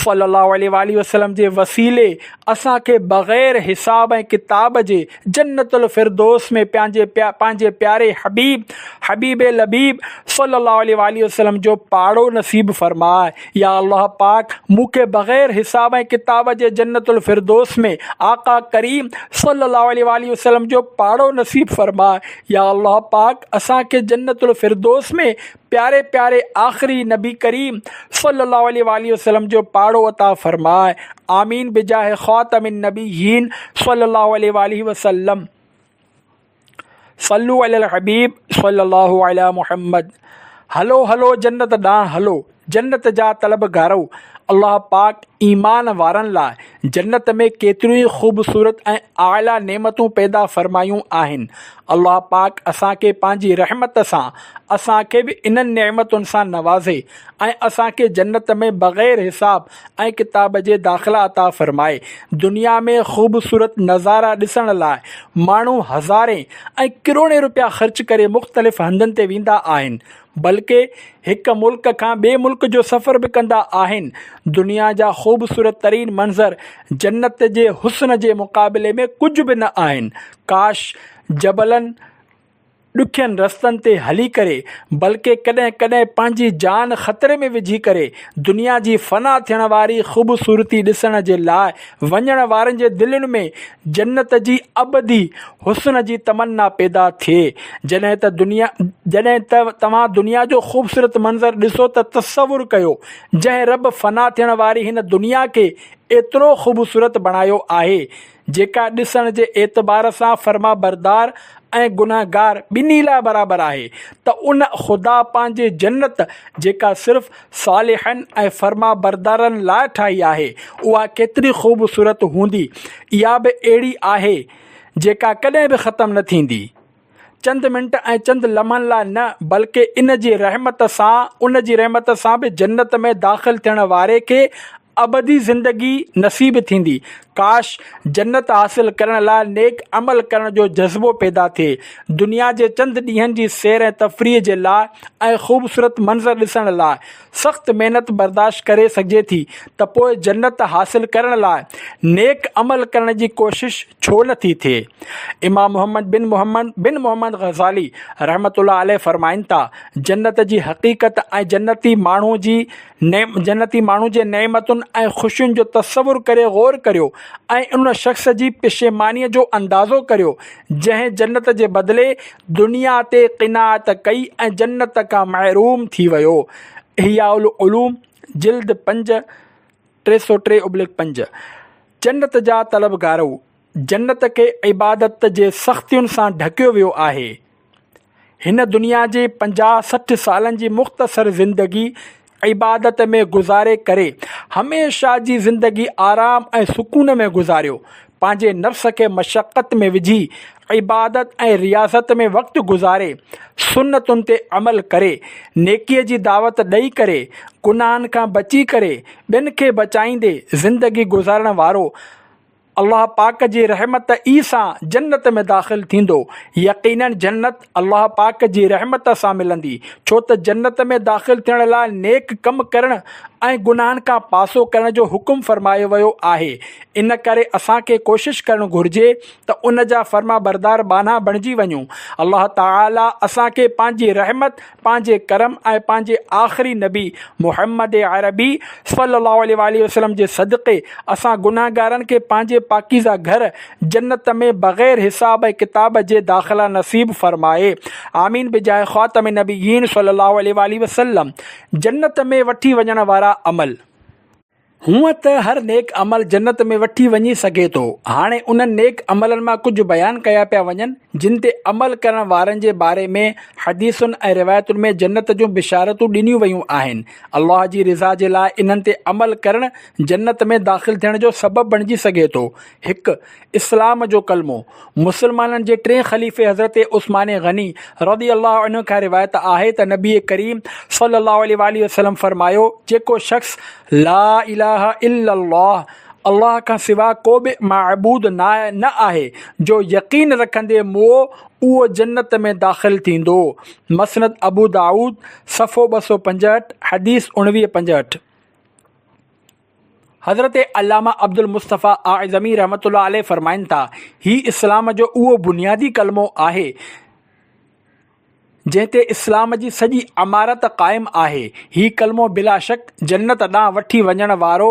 صلّي الله عليه واٰله وسلّم جي وسيلي اسان کي بغير حساب ۽ ڪتاب جي جنّت الفردوس ۾ پنهنجي پنهنجي پياري حبيب حبيب لبيب صلّي الله عليه واٰله وسلّم جو پاڙو نصيب فرماء. يا الله پاڪ مون کي بغير حساب ۽ ڪتاب جي جنت الفردوس ۾ آقا ڪريم صلي الله عليه واٰله وسلم جو پاڙو نصيب فرماء يا الله پاڪ اسان کي جنت الفردوس ۾ پياري پياري آخري نبي ڪريم صلي الله عليه واٰله وسلم جو پاڙو عطا فرماء آمين بجاه خاتم النبيين صلي الله عليه واٰله وسلم صلو علي الحبيب صلي الله علي محمد هلو هلو جنت ڏانهن هلو جنت جا طلب گارو الله پاڪ ايمان وارن لاء جنت ۾ ڪيتريون ئي خوبصورت ۽ اعليٰ نعمتون پيدا فرمايون آهن الله پاڪ اسان کي پنهنجي رحمت سان اسان کي به انهن نعمتن سان نوازي ۽ اسان کي جنت ۾ بغير حساب ۽ ڪتاب جي داخلا عطا فرمائي دنيا ۾ خوبصورت نظارا ڏسڻ لاء ماڻهو هزارين ۽ ڪروڙين روپيا خرچ ڪري مختلف هنڌن تي ويندا آهن بلڪه هڪ ملڪ کان ٻئي ملڪ جو سفر به ڪندا آهن دنيا جا خوبصورت ترين منظر جنت جي حسن جي مقابلي ۾ ڪجهه به نه آهن ڪاش جبلن ڏکين رستن تي هلي ڪري بلڪه ڪڏهن ڪڏهن پنهنجي جان خطري ۾ وجهي ڪري دنيا جي فنا ٿيڻ واري خوبصورتي ڏسڻ جي لاء وڃڻ وارن جي دلين ۾ جنت جي ابدي حسن جي تمنا پيدا ٿئي جڏهن ته دنيا جڏهن ته توهان دنيا جو خوبصورت منظر ڏسو ته تصور ڪيو جنهن رب فنا ٿيڻ واري هن دنيا کي ايترو خوبصورت بڻايو آهي جيڪا ڏسڻ جي اعتبار سان فرمانبردار ۽ گنهگار ٻنهي لاء برابر آهي ته ان خدا پنهنجي جنت جيڪا صرف صالحن ۽ فرمانبردارن لاء ٺاهي آهي اها ڪيتري خوبصورت هوندي اها به اهڙي آهي جيڪا ڪڏهن به ختم نه ٿيندي چند منٽ ۽ چند لمحن لاء نه بلڪه ان جي رحمت سان ان جي رحمت سان به جنت ۾ داخل ٿيڻ واري کي ابدي زندگي نصيب ٿيندي. ڪاش! جنت حاصل ڪرڻ لاء نيڪ عمل ڪرڻ جو جذبو پيدا ٿئي. دنيا جي چند ڏينهن جي سير ۽ تفريح جي لاء ۽ خوبصورت منظر ڏسڻ لاء سخت محنت برداشت ڪري سگهجي ٿي ته پوء جنت حاصل ڪرڻ لاء نيڪ عمل ڪرڻ جي ڪوشش ڇو نه ٿي ٿئي؟ امام محمد بن محمد بن محمد غزالي رحمة الله عليه فرمائن ٿا، جنت جي حقيقت ۽ جنتي ماڻهو جي نعم، جنتي ماڻهو جي نعمتن ۽ خوشين جو تصور ڪري غور ڪريو ۽ ان شخص جي پشيمانيء جو اندازو ڪريو، جنهن جنت جي بدلي دنيا تي قناعت ڪئي ۽ جنت کان محروم ٿي ويو. احياء العلوم، جلد پنج، ٽي سؤ ٽي ابليڪ پنج. جنت جا طلبگارو، جنت کي عبادت جي سختين سان ڍڪيو ويو آهي. هن دنيا جي پنجاهه سٺ سالن جي مختصر زندگي عبادت ۾ گذاري ڪري هميشه جي زندگي آرام ۽ سڪون ۾ گذاريو. پنهنجي نفس کي مشقت ۾ وجهي عبادت ۽ رياضت ۾ وقت گذاري، سنتن تي عمل ڪري، نيڪي جي دعوت ڏئي ڪري، گناهن کان بچي ڪري، ٻين کي بچائيندي زندگي گذارڻ وارو الله پاڪ جي رحمت ئي سان جنت ۾ داخل ٿيندو. يقيناً جنت الله پاڪ جي رحمت سان ملندي، ڇو ته جنت ۾ داخل ٿيڻ لاء نيڪ ڪم ڪرڻ ۽ گناهن کان پاسو ڪرڻ جو حڪم فرمايو ويو آهي. ان ڪري اسان کي ڪوشش ڪرڻ گهرجي ته ان جا فرمانبردار ٻانها بڻجي وڃون. الله تعاليٰ اسان کي پنهنجي رحمت. پنهنجي ڪرم ۽ پنهنجي آخري نبي محمد عربي صلّي الله عليه واٰله وسلّم جي صدقي اسان گنهگارن کي پنهنجي پاڪيزه گهر جنت ۾ بغير حساب ۽ ڪتاب جي داخلا نصيب فرمائي آمين بجاهه خاتم النبيين صلّي الله عليه واٰله وسلّم جنت ۾ وٺي وڃڻ وارا عمل هونئن ته هر نيڪ عمل جنت ۾ وٺي وڃي سگهي ٿو. هاڻي انهن نيڪ عملن مان ڪجهه بيان ڪيا پيا وڃن، جن تي عمل ڪرڻ وارن جي باري ۾ حديثن ۽ روايتن ۾ جنت جون بشارتون ڏنيون ويون آهن. الله جي رضا جي لاء انهن تي عمل ڪرڻ جنت ۾ داخل ٿيڻ جو سبب بڻجي سگهي ٿو. هڪ، اسلام جو ڪلمو، مسلمانن جي ٽئين خليفي حضرت عثمان غني رضي الله عنه کان روايت آهي ته نبي ڪريم صلي الله عليه واٰله وسلم فرمايو، جيڪو شخص لا اله الا الله، الله کان سوا ڪو به معبود ناهي نه آهي، جو يقين رکندي مئو اهو جنت ۾ داخل ٿيندو. مسند ابودائود صفحو ٻه سؤ پنجهٺ، حديث اڻويهه پنجهٺ. حضرت علامه عبدالمصطفيٰ اعظمي رحمة الله عليه فرمائن ٿا، هي اسلام جو اهو بنيادي ڪلمو آهي، جنهن تي اسلام جي سڄي عمارت قائم آهي. هي ڪلمو بلا شڪ جنت ڏانهن وٺي وڃڻ وارو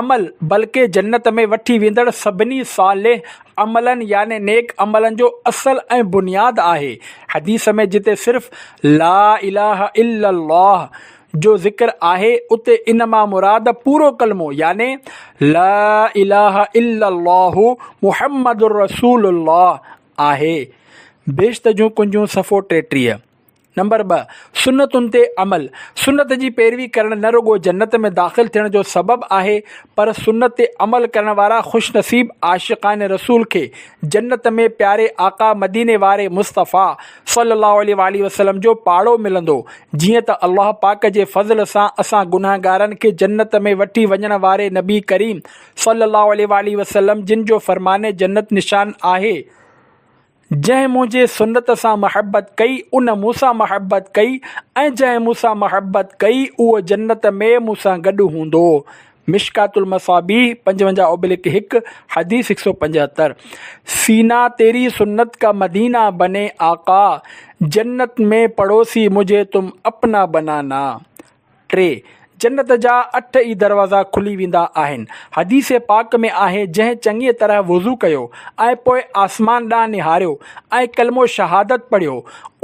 عمل بلڪه جنت ۾ وٺي ويندڙ سڀني صالح عملن يعني نيڪ عملن جو اصل ۽ بنياد آهي. حديث ۾ جتي صرف لا اله الا الله! جو ذڪر آهي اتي ان مان مراد پورو ڪلمو يعني لا اله الا الله محمد رسول الله آهي. بهشت جون ڪنجون صفحو ٽيٽيهه. نمبر ٻه، سنتن تي عمل، سنت جي پيروي ڪرڻ نه رڳو جنت ۾ داخل ٿيڻ جو سبب آهي پر سنت تي عمل ڪرڻ وارا خوش نصيب عاشقان رسول کي جنت ۾ پياري آقا مديني واري مصطفيٰ صلّي اللّٰه عليه واٰله وسلّم جو پاڙو ملندو، جيئن ته الله پاڪ جي فضل سان اسان گنهگارن کي جنّت ۾ وٺي وڃڻ واري نبي ڪريم صلّي اللّٰه عليه واٰله وسلّم جن جو فرمان جنّت نشان آهي، جنهن منهنجي سنّت سان محبّت ڪئي، ان مون سان محبّت ڪئي ۽ جنهن مون سان محبّت ڪئي، اهو جنّت ۾ مون سان گڏ هوندو. مشڪات المصابيح پنجونجاهه اوبلڪ هڪ، حديث هڪ سؤ پنجهتر، سينا تيري سنت ڪا مدينا بني آقا، جنت ۾ پڙوسي مجهي تم اپنا بنانا ٽي، جنت جا اٺ ئي دروازا کلي ويندا آهن، حديث پاڪ ۾ آهي جنهن چڱيء طرح وضو ڪيو ۽ پوء آسمان ڏانهن نهاريو ۽ ڪلمو شهادت پڙهيو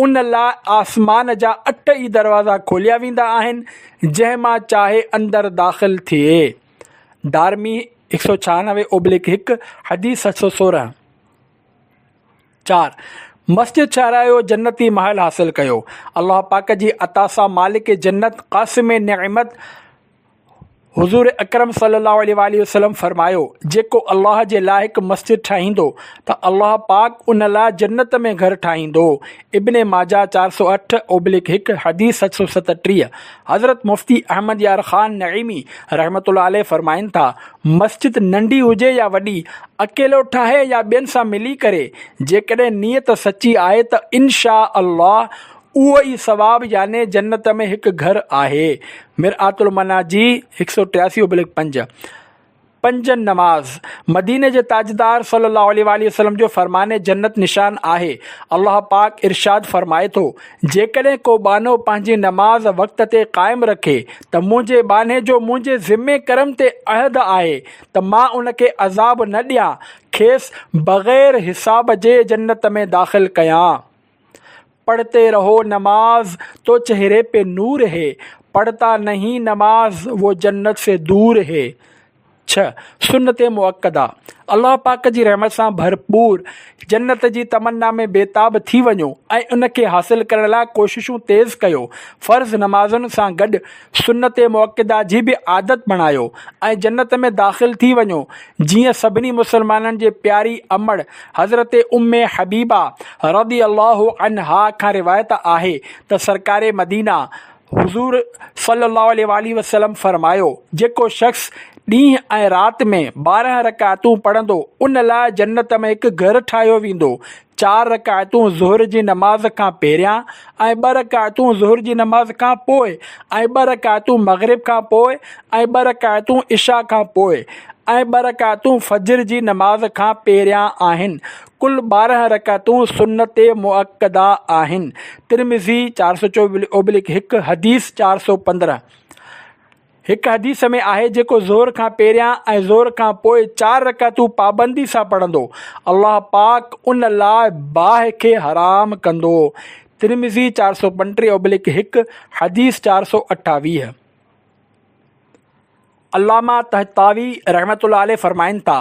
ان لاء آسمان جا اٺ ئي دروازا کوليا ويندا آهن، جنهن مان چاهي اندر داخل ٿئي. دارمي، هڪ سؤ ڇهانوي اوبلڪ هڪ، حديث سٺ سؤ سورهن. چار، مسجد ٺهرايو جنتي محل حاصل ڪيو. الله پاڪ جي عطا سان مالڪ جنت قاسم نعمت حضور اڪرم صلي الله عليه واٰله وسلم فرمايو، جيڪو الله جي لاء هڪ مسجد ٺاهيندو ته الله پاڪ ان لاء جنت ۾ گهر ٺاهيندو. ابن ماجه چار سؤ اٺ اوبلڪ هڪ حديث ست سؤ ستٽيهه حضرت مفتي احمد يار خان نعيمي رحمة الله عليه فرمائن ٿا، مسجد ننڍي هجي يا وڏي، اڪيلو ٺاهي يا ٻين سان ملي ڪري، جيڪڏهن نيت سچي آهي ته ان شآء الله اهو ئي ثواب يعني جنت ۾ هڪ گهر آهي، مرآت المناجي هڪ سؤ ٽياسي اوبلڪ پنج. پنجن نماز، مديني جي تاجدار صلّي اللّٰه عليه واٰله وسلّم جو فرمان جنّت نشان آهي، الله پاڪ ارشاد فرمائي ٿو، جيڪڏهن ڪو ٻانهو پنهنجي نماز وقت تي قائم رکي ته منهنجي ٻانهي جو منهنجي ذمي ڪرم تي عهد آهي ته مان ان کي عذاب نه ڏيان، کيس بغير حساب جي جنّت ۾ داخل ڪيان. پڙهتي رهو نماز تو چهري پي نور هي پڙهتا نهين نماز وو جنت سي دور هي ڇهه سنت مؤڪده الله پاڪ جي رحمت سان ڀرپور جنت جي تمنا ۾ بيتاب ٿي وڃو ۽ ان کي حاصل ڪرڻ لاء ڪوششون تيز ڪيو فرض نمازن سان گڏ سنت مؤڪده جي به عادت بڻايو ۽ جنت ۾ داخل ٿي وڃو جيئن سڀني مسلمانن جي پياري امڙ حضرت ام حبيبه رضي الله عنها کان روايت آهي ته سرڪار مدينه حضور صلي الله عليه واٰله وسلم فرمايو جيڪو شخص ڏينهن ۽ رات ۾ ٻارهن رڪعتون پڙهندو ان لاء جنت ۾ هڪ گهر ٺاهيو ويندو چار رڪعتون ظهر جي نماز کان پهريان ۽ ٻه رڪعتون ظهر جي نماز کان پوء ۽ ٻه رڪعتون مغرب کان پوء ۽ ٻه رڪعتون عشاء کان پوء ۽ ٻه رڪعتون فجر جي نماز کان پهريان آهن. ڪل ٻارهن رڪعتون سنت مؤڪده آهن. ترمذي چار سؤ چوبلڪ هڪ حديث چار سؤ پندرهن. هڪ حديث ۾ آهي جيڪو ظهر کان پهريان ۽ ظهر کان پوء چار رڪعتون پابندي سان پڙهندو الله پاڪ ان لاء باهه کي حرام ڪندو، ترمذي چار سؤ پنٽيهه ابلڪ هڪ، حديث چار سؤ اٺاويهه. علامه طحطاوي رحمة الله عليه فرمائن ٿا،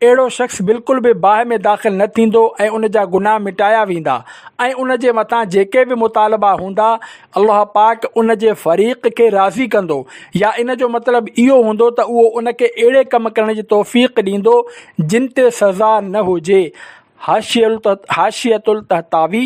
اهڙو شخص بلڪل به باهه ۾ داخل نه ٿيندو ۽ ان جا گناهه مٽايا ويندا ۽ ان جي مٿان جيڪي به مطالبا هوندا الله پاڪ ان جي فريق کي راضي ڪندو يا ان جو مطلب اهو هوندو ته اهو ان کي اهڙي ڪم ڪرڻ جي توفيق ڏيندو جن تي سزا نه هجي حاشية الطهطاوي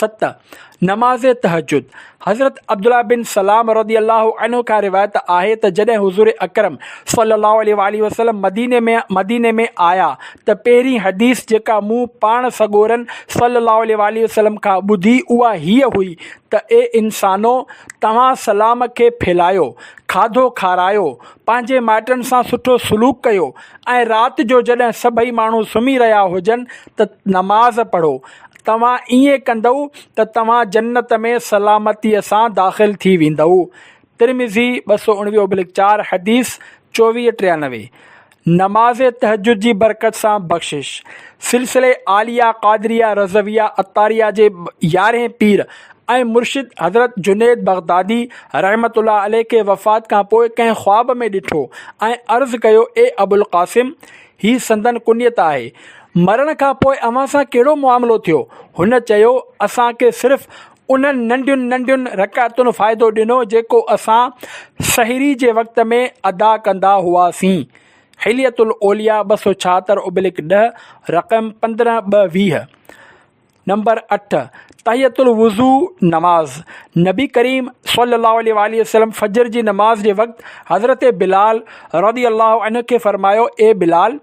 ست، نماز تهجد، حضرت عبدالله بن سلام رضي الله عنه کان روايت آهي ته جڏهن حضور اڪرم صلي الله عليه واٰله وسلم مديني ۾ مديني ۾ آيا ته پهرين حديث جيڪا مون پاڻ سڳورن صلي الله عليه واٰله وسلم کان ٻڌي اها هيء هئي ته اي انسانو! توهان سلام کي ڦهلايو، کاڌو کارايو، پنهنجي مائٽن سان سٺو سلوڪ ڪيو ۽ رات جو جڏهن سڀئي ماڻهو سمهي رهيا هجن ته نماز پڙهو. توهان ائين ڪندؤ ته توهان جنت ۾ سلامتيء سان داخل ٿي ويندؤ. ترمذي، ٻه سؤ اڻويهه ابلڪ چار، حديث چوويهه ٽيانوي، نماز تهجد جي برڪت سان بخشش، سلسلي عاليه قادريه رضويه عطاريه جي يارهين پير ۽ مرشد حضرت جنيد بغدادي رحمة الله عليه کي وفات کان پوء ڪنهن خواب ۾ ڏٺو ۽ عرض ڪيو اي ابوالقاسم! هي سندن ڪنيت آهي. مرڻ کان پوء اوهان سان ڪهڙو معاملو ٿيو؟ هن چيو، اسان کي صرف انهن ننڍين ننڍين رڪعتن فائدو ڏنو جيڪو اسان سحري جي وقت ۾ ادا ڪندا هئاسين. حلية الاولياء ٻه سؤ ڇاهتر اوبلڪ ڏهه، رقم پندرهن ٻه ويهه. نمبر اٺ، تحية الوضوء نماز، نبي ڪريم صلي الله عليه واٰله وسلم فجر جي نماز جي وقت حضرت بلال رضي الله عنه کي فرمايو، اي بلال!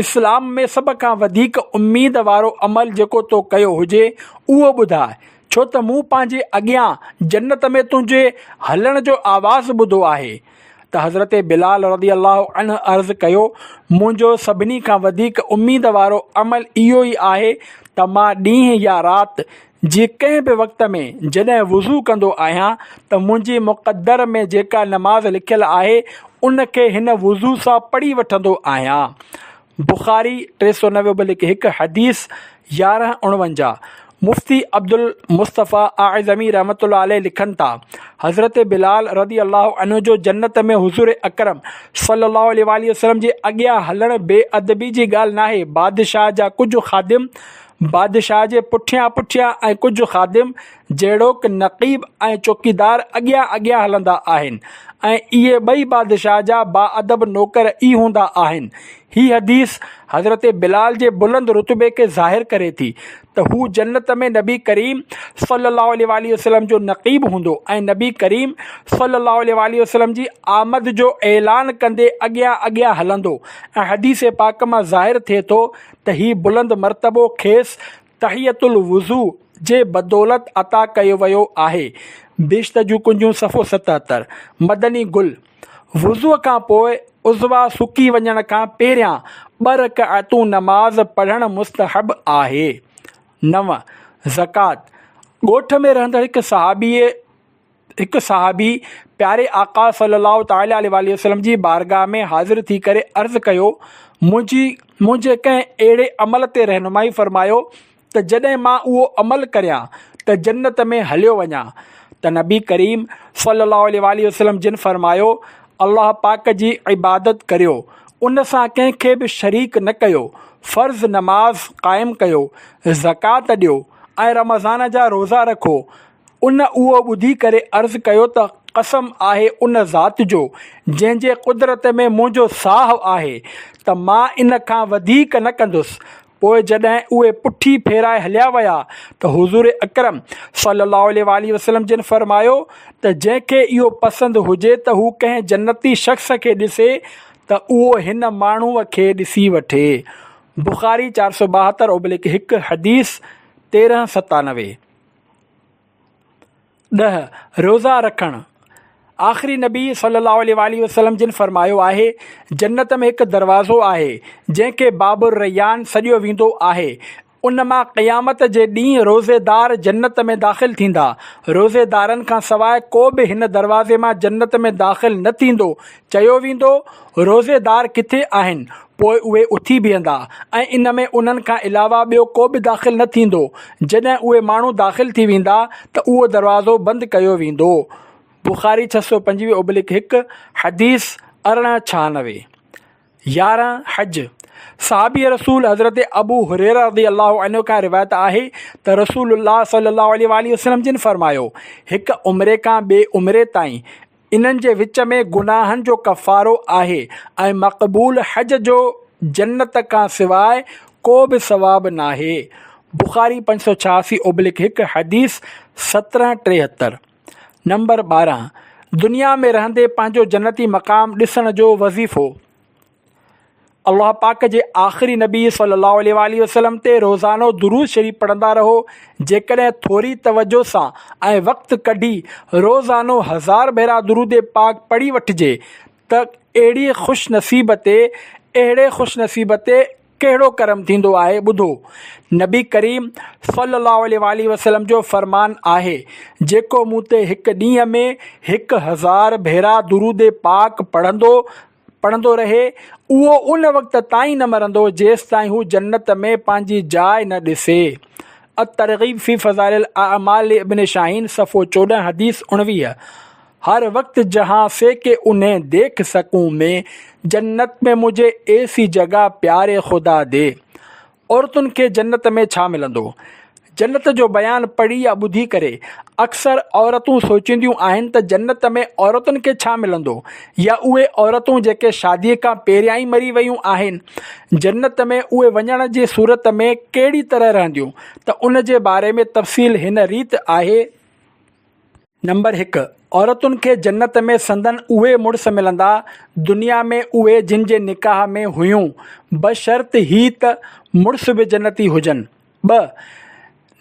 اسلام ۾ سڀ کان وڌيڪ اميد وارو عمل جيڪو تو ڪيو هجي اهو ٻڌاء، ڇو ته مون پنهنجي اڳيان جنت ۾ تنهنجي هلڻ جو آواز ٻڌو آهي. ته حضرت بلال رضي الله عنه عرض ڪيو، منهنجو سڀني کان وڌيڪ اميد وارو عمل اهو ئي آهي ته مان ڏينهن يا رات جي ڪنهن به وقت ۾ جڏهن وضو ڪندو آهيان ته منهنجي مقدر ۾ جيڪا نماز لکيل آهي ان کي هن وضو سان پڙهي وٺندو آهيان بخاري ٽي سؤ نوي به لک هڪ حديث يارهن اڻونجاهه مفتي عبدالمصطفيٰ اعظمي رحمة الله عليه لکن ٿا، حضرت بلال رضي الله عنه جو جنت ۾ حضور اڪرم صلي الله عليه واٰله وسلم جي اڳيان هلڻ بي ادبي جي ڳالهه ناهي، بادشاهه جا ڪجهه خادم بادشاهه جي پٺيان پٺيان ۽ ڪجهه خادم جهڙوڪ نقيب ۽ چوڪيدار اڳيان اڳيان هلندا آهن ۽ اهي ٻئي بادشاهه جا باادب نوڪر ئي هوندا آهن. هي حديث حضرت بلال جي بلند رتبي کي ظاهر ڪري ٿي ته هو جنت ۾ نبي ڪريم صلّي اللّٰه عليه واٰله وسلّم جو نقيب هوندو ۽ نبي ڪريم صلّي اللّٰه عليه واٰله وسلّم جي آمد جو اعلان ڪندي اڳيان اڳيان هلندو ۽ حديث پاڪ مان ظاهر ٿئي ٿو ته هي بلند مرتبو کيس تحية الوضوء جي بدولت عطا ڪيو ويو آهي، بهشت جون ڪنجون صفحو ستهتر. مدني گل، وضوء کان پوء عضوا سڪي وڃڻ کان پهريان ٻه رڪعتون نماز پڙهڻ مستحب آهي. نو، زڪوات، ڳوٺ ۾ رهندڙ هڪ صحابيء، هڪ صحابي پياري آقا صلّي اللّٰه تعالٰي عليه واٰله وسلّم جي بارگاھ ۾ حاضر ٿي ڪري عرض ڪيو، منهنجي منهنجي ڪنهن اهڙي عمل تي رهنمائي فرمايو ته جڏهن مان اهو عمل ڪريان ته جنّت ۾ هليو وڃان ته نبي ڪريم صلّي اللّٰه عليه واٰله وسلّم جن فرمايو، الله پاڪ جي عبادت ڪريو، ان سان ڪنهن کي به شريڪ نه ڪيو، فرض نماز قائم ڪيو، زڪوات ڏيو ۽ رمضان جا روزا رکو، ان اهو ٻڌي ڪري عرض ڪيو ته قسم آهي ان ذات جو جنهن جي قدرت ۾ منهنجو ساهه آهي ته مان ان کان وڌيڪ نه ڪندس. پوء جڏهن اهي پٺي ڦيرائي هليا ويا ته حضور اڪرم صلي الله عليه واٰله وسلم جن فرمايو ته جنهن کي اهو پسند هجي ته هو ڪنهن جنتي شخص کي ڏسي ته اهو هن ماڻهوء کي ڏسي وٺي. بخاري چار سؤ ٻاهتر اوبلڪ هڪ، حديث تيرهن ستانوي. ڏهه، روزا رکڻ، آخري نبي صلّي اللّٰه عليه واٰله وسلّم جن فرمايو آهي، جنّت ۾ هڪ دروازو آهي، جنهن کي باب الرّيّان سڏيو ويندو آهي، ان مان قيامت جي ڏينهن روزيدار جنّت ۾ داخل ٿيندا، روزيدارن کان سواء ڪو به هن دروازي مان جنّت ۾ داخل نه ٿيندو، چيو ويندو، روزيدار ڪٿي آهن؟ پوء اهي اٿي بيهندا ۽ ان ۾ انهن کان علاوه ٻيو ڪو به داخل نه ٿيندو. جڏهن اهي ماڻهو داخل ٿي ويندا ته اهو دروازو بند ڪيو ويندو. بخاري ڇهه سؤ پنجويهه ابلڪ هڪ، حديث ارڙهن ڇهانوي. يارهن، حج، صحابي رسول حضرت ابو هريره رضي الله عنه کان روايت آهي ته رسول الله صلي الله عليه واٰله وسلم جن فرمايو، هڪ عمري کان ٻئي عمري تائين انهن جي وچ ۾ گناهن جو ڪفارو آهي ۽ مقبول حج جو جنت کان سواء ڪو به ثواب ناهي، بخاري پنج سؤ ڇياسي اوبلڪ هڪ حديث سترهن ٽيهتر. نمبر ٻارهن، دنيا ۾ رهندي پنهنجو جنتي مقام ڏسڻ جو وظيفو. الله پاڪ جي آخري نبي صلّي الله عليه واٰله وسلّم تي روزانو درود شريف پڙهندا رهو جيڪڏهن ٿوري توجه سان ۽ وقت ڪڍي روزانو هزار ڀيرا درود پاڪ پڙهي وٺجي ته اهڙي خوش نصيب تي اهڙي خوش نصيب تي ڪهڙو ڪرم ٿيندو آهي ٻڌو نبي ڪريم صلّي الله عليه واٰله وسلّم جو فرمان آهي جيڪو مون تي هڪ ڏينهن ۾ هڪ هزار ڀيرا درود پاڪ پڙهندو پڙهندو رهي، اهو ان وقت تائين نه مرندو، جيستائين هو جنت ۾ پنهنجي جاء نه ڏسي. الترغيب في فضائل الاعمال لابن شاهين، صفحو چوڏهن، حديث اڻويهه، هر وقت جهان سي ڪي انهين ديک سڪون مين، جنت ۾ مجهي ايسي جگهه پياري خدا دي. عورتن کي جنت ۾ ڇا ملندو؟ جنت جو بيان پڙهي يا ٻڌي ڪري اڪثر عورتون سوچينديون آهن ته جنت ۾ عورتن کي ڇا ملندو يا اهي عورتون جيڪي شادي کان پهريان ئي مري ويون آهن جنت ۾ اهي وڃڻ جي صورت ۾ ڪهڙي طرح رهنديون ته ان جي باري ۾ تفصيل هن ريت آهي. نمبر هڪ، عورتن کي جنت ۾ سندن اهي مڙس ملندا، دنيا ۾ اهي جن جي نڪاح ۾ هيون، بشرط هي ته مڙس به جنتي هجن. ٻه،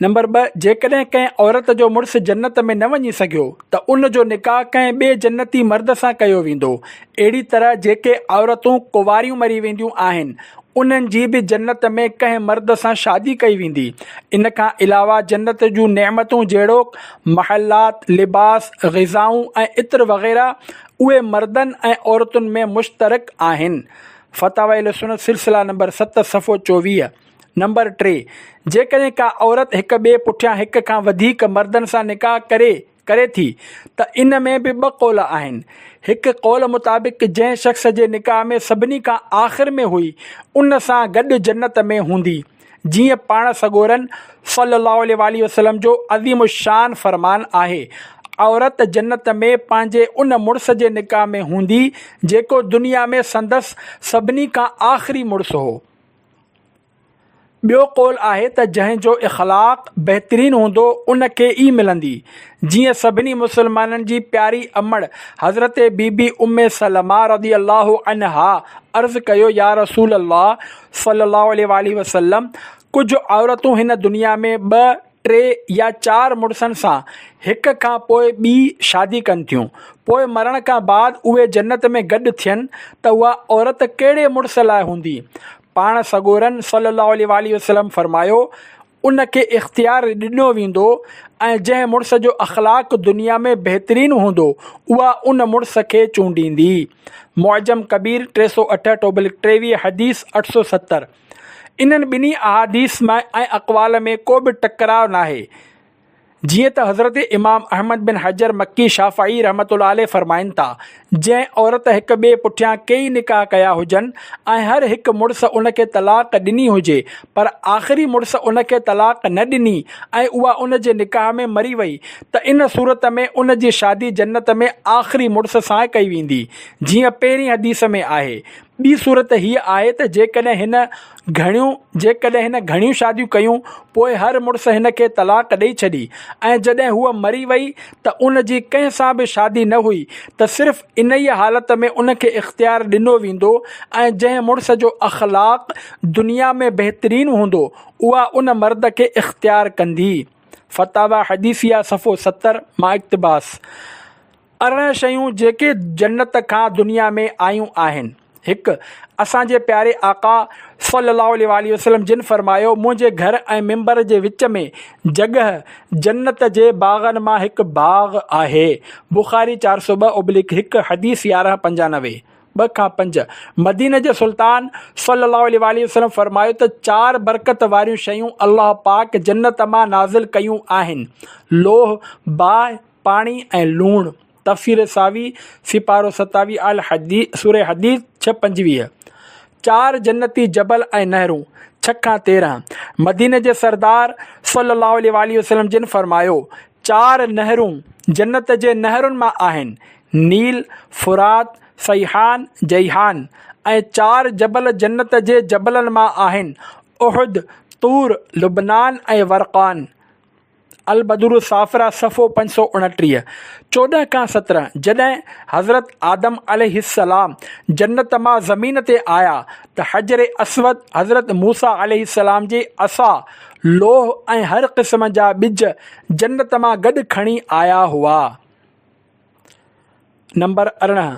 نمبر ٻه، جيڪڏهن ڪنهن عورت جو مڙس جنت ۾ نه وڃي سگهيو ته ان جو نڪاح ڪنهن ٻئي جنتي مرد سان ڪيو ويندو. اهڙي طرح جيڪي عورتون ڪنواريون مري وينديون آهن، انهن جي به جنت ۾ ڪنهن مرد سان شادي ڪئي ويندي. ان کان علاوه جنت جون نعمتون جهڙوڪ، محلات، لباس، غذائون ۽ عطر وغيره اهي مردن ۽ عورتن ۾ مشترڪ آهن. فتاوي اهلسنت سلسله نمبر ست صفحو چوويهه. نمبر ٽي، جيڪڏهن ڪا عورت هڪ ٻئي پٺيان هڪ کان وڌيڪ مردن سان نڪاح ڪري ڪري ٿي ته ان ۾ به ٻه قول آهن. هڪ قول مطابق جنهن شخص جي نڪاح ۾ سڀني کان آخر ۾ هئي ان سان گڏ جنت ۾ هوندي. جيئن پاڻ سڳورن صلّي اللّٰه عليه واٰله وسلّم جو عظيم الشّان فرمان آهي، عورت جنّت ۾ پنهنجي ان مڙس جي نڪاح ۾ هوندي، جيڪو دنيا ۾ سندس سڀني کان آخري مڙس هو. ٻيو قول آهي ته جنهن جو اخلاق بهترين هوندو ان کي ئي ملندي، جيئن سڀني مسلمانن جي پياري امڙ حضرت بي بي ام سلمه رضي اللّٰه عنها عرض ڪيو يا رسول اللّٰه! صلّي اللّٰه عليه واٰله وسلّم، ڪجهه عورتون هن دنيا ۾ ٻه، ٽي يا چار مڙسن سان هڪ کان پوء ٻي شادي ڪن ٿيون، پوء مرڻ کان بعد اهي جنّت ۾ گڏ ٿين ته اها عورت ڪهڙي مڙس لاء هوندي؟ پاڻ سڳورن صلّي اللّٰه عليه واٰله وسلّم فرمايو، ان کي اختيار ڏنو ويندو ۽ جنهن مڙس جو اخلاق دنيا ۾ بهترين هوندو، اها ان مڙس کي چونڊيندي. معجم ڪبير ٽي سؤ اٺهٺ اوبلڪ ٽيويهه، حديث اٺ سؤ ستر. انهن ٻنهي احاديث ۾ ۽ اقوال ۾ ڪو به ٽڪراء ناهي. جيئن ته حضرت امام احمد بن حجر مڪي شافعي رحمة الله عليه فرمائن ٿا، جنهن عورت هڪ ٻئي پٺيان ڪيئي نڪاح ڪيا هجن ۽ هر هڪ مڙس ان کي طلاق ڏني هجي پر آخري مڙس ان کي طلاق نه ڏني ۽ اها ان جي نڪاح ۾ مري وئي ته ان صورت ۾ ان جي شادي جنت ۾ آخري مڙس سان ڪئي ويندي جيئن پهرين حديث ۾ آهي. ٻي صورت هيء آهي ته جيڪڏهن هن گهڻيون جيڪڏهن هن گهڻيون شاديون ڪيون پوء هر مڙس هن کي طلاق ڏئي ڇڏي ۽ جڏهن هوء مري وئي ته ان جي ڪنهن سان به شادي نه هئي ته صرف انهيء حالت ۾ ان کي اختيار ڏنو ويندو ۽ جنهن مڙس جو اخلاق دنيا ۾ بهترين هوندو اها ان مرد کي اختيار ڪندي فتاويٰ حديثيه صفحو ستر مان اقتباس. ارڙهن شيون جيڪي جنت کان دنيا ۾ آيون آهن. هڪ، اسان جي پياري آقا صلّي اللّٰه عليه واٰله وسلّم جن فرمايو، منهنجي گهر ۽ منبر جي وچ ۾ جڳهه جنت جي باغن مان هڪ باغ آهي، بخاري چار سؤ ٻه ابليڪ هڪ، حديث يارهن پنجانوي، ٻه کان پنج، مديني جي سلطان صلّي اللّٰه عليه واٰله وسلّم فرمايو ته چار برڪت واريون شيون الله پاڪ جنت مان نازل ڪيون آهن، لوهه، باهه، پاڻي ۽ لوڻ، تفسير ساوي، سيپارو ستاويهه الحديد، سوره حديد، ڇهه پنجويهه، چار جنتي جبل ۽ نهرون، ڇهه کان تيرهن، مديني جي سردار صلّي اللّٰه عليه واٰله وسلّم جن فرمايو، چار نهرون جنت جي نهرن مان آهن، نيل، فرات، صيحان، جيحان، ۽ چار جبل جنت جي جبلن مان آهن، احد، طور، لبنان ۽ ورقان. البدر الصافره صفحو پنج سؤ اڻٽيهه، چوڏهن کان سترهن، جڏهن حضرت آدم عليه السلام جنت مان زمين تي آيا ته حجر اسود، حضرت موسيٰ عليه السلام جي عصا، لوهه ۽ هر قسم جا ٻج جنت مان گڏ کڻي آيا هئا. نمبر ارڙهن،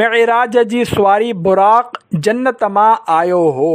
معراج جي سواري براق جنت مان آيو هو.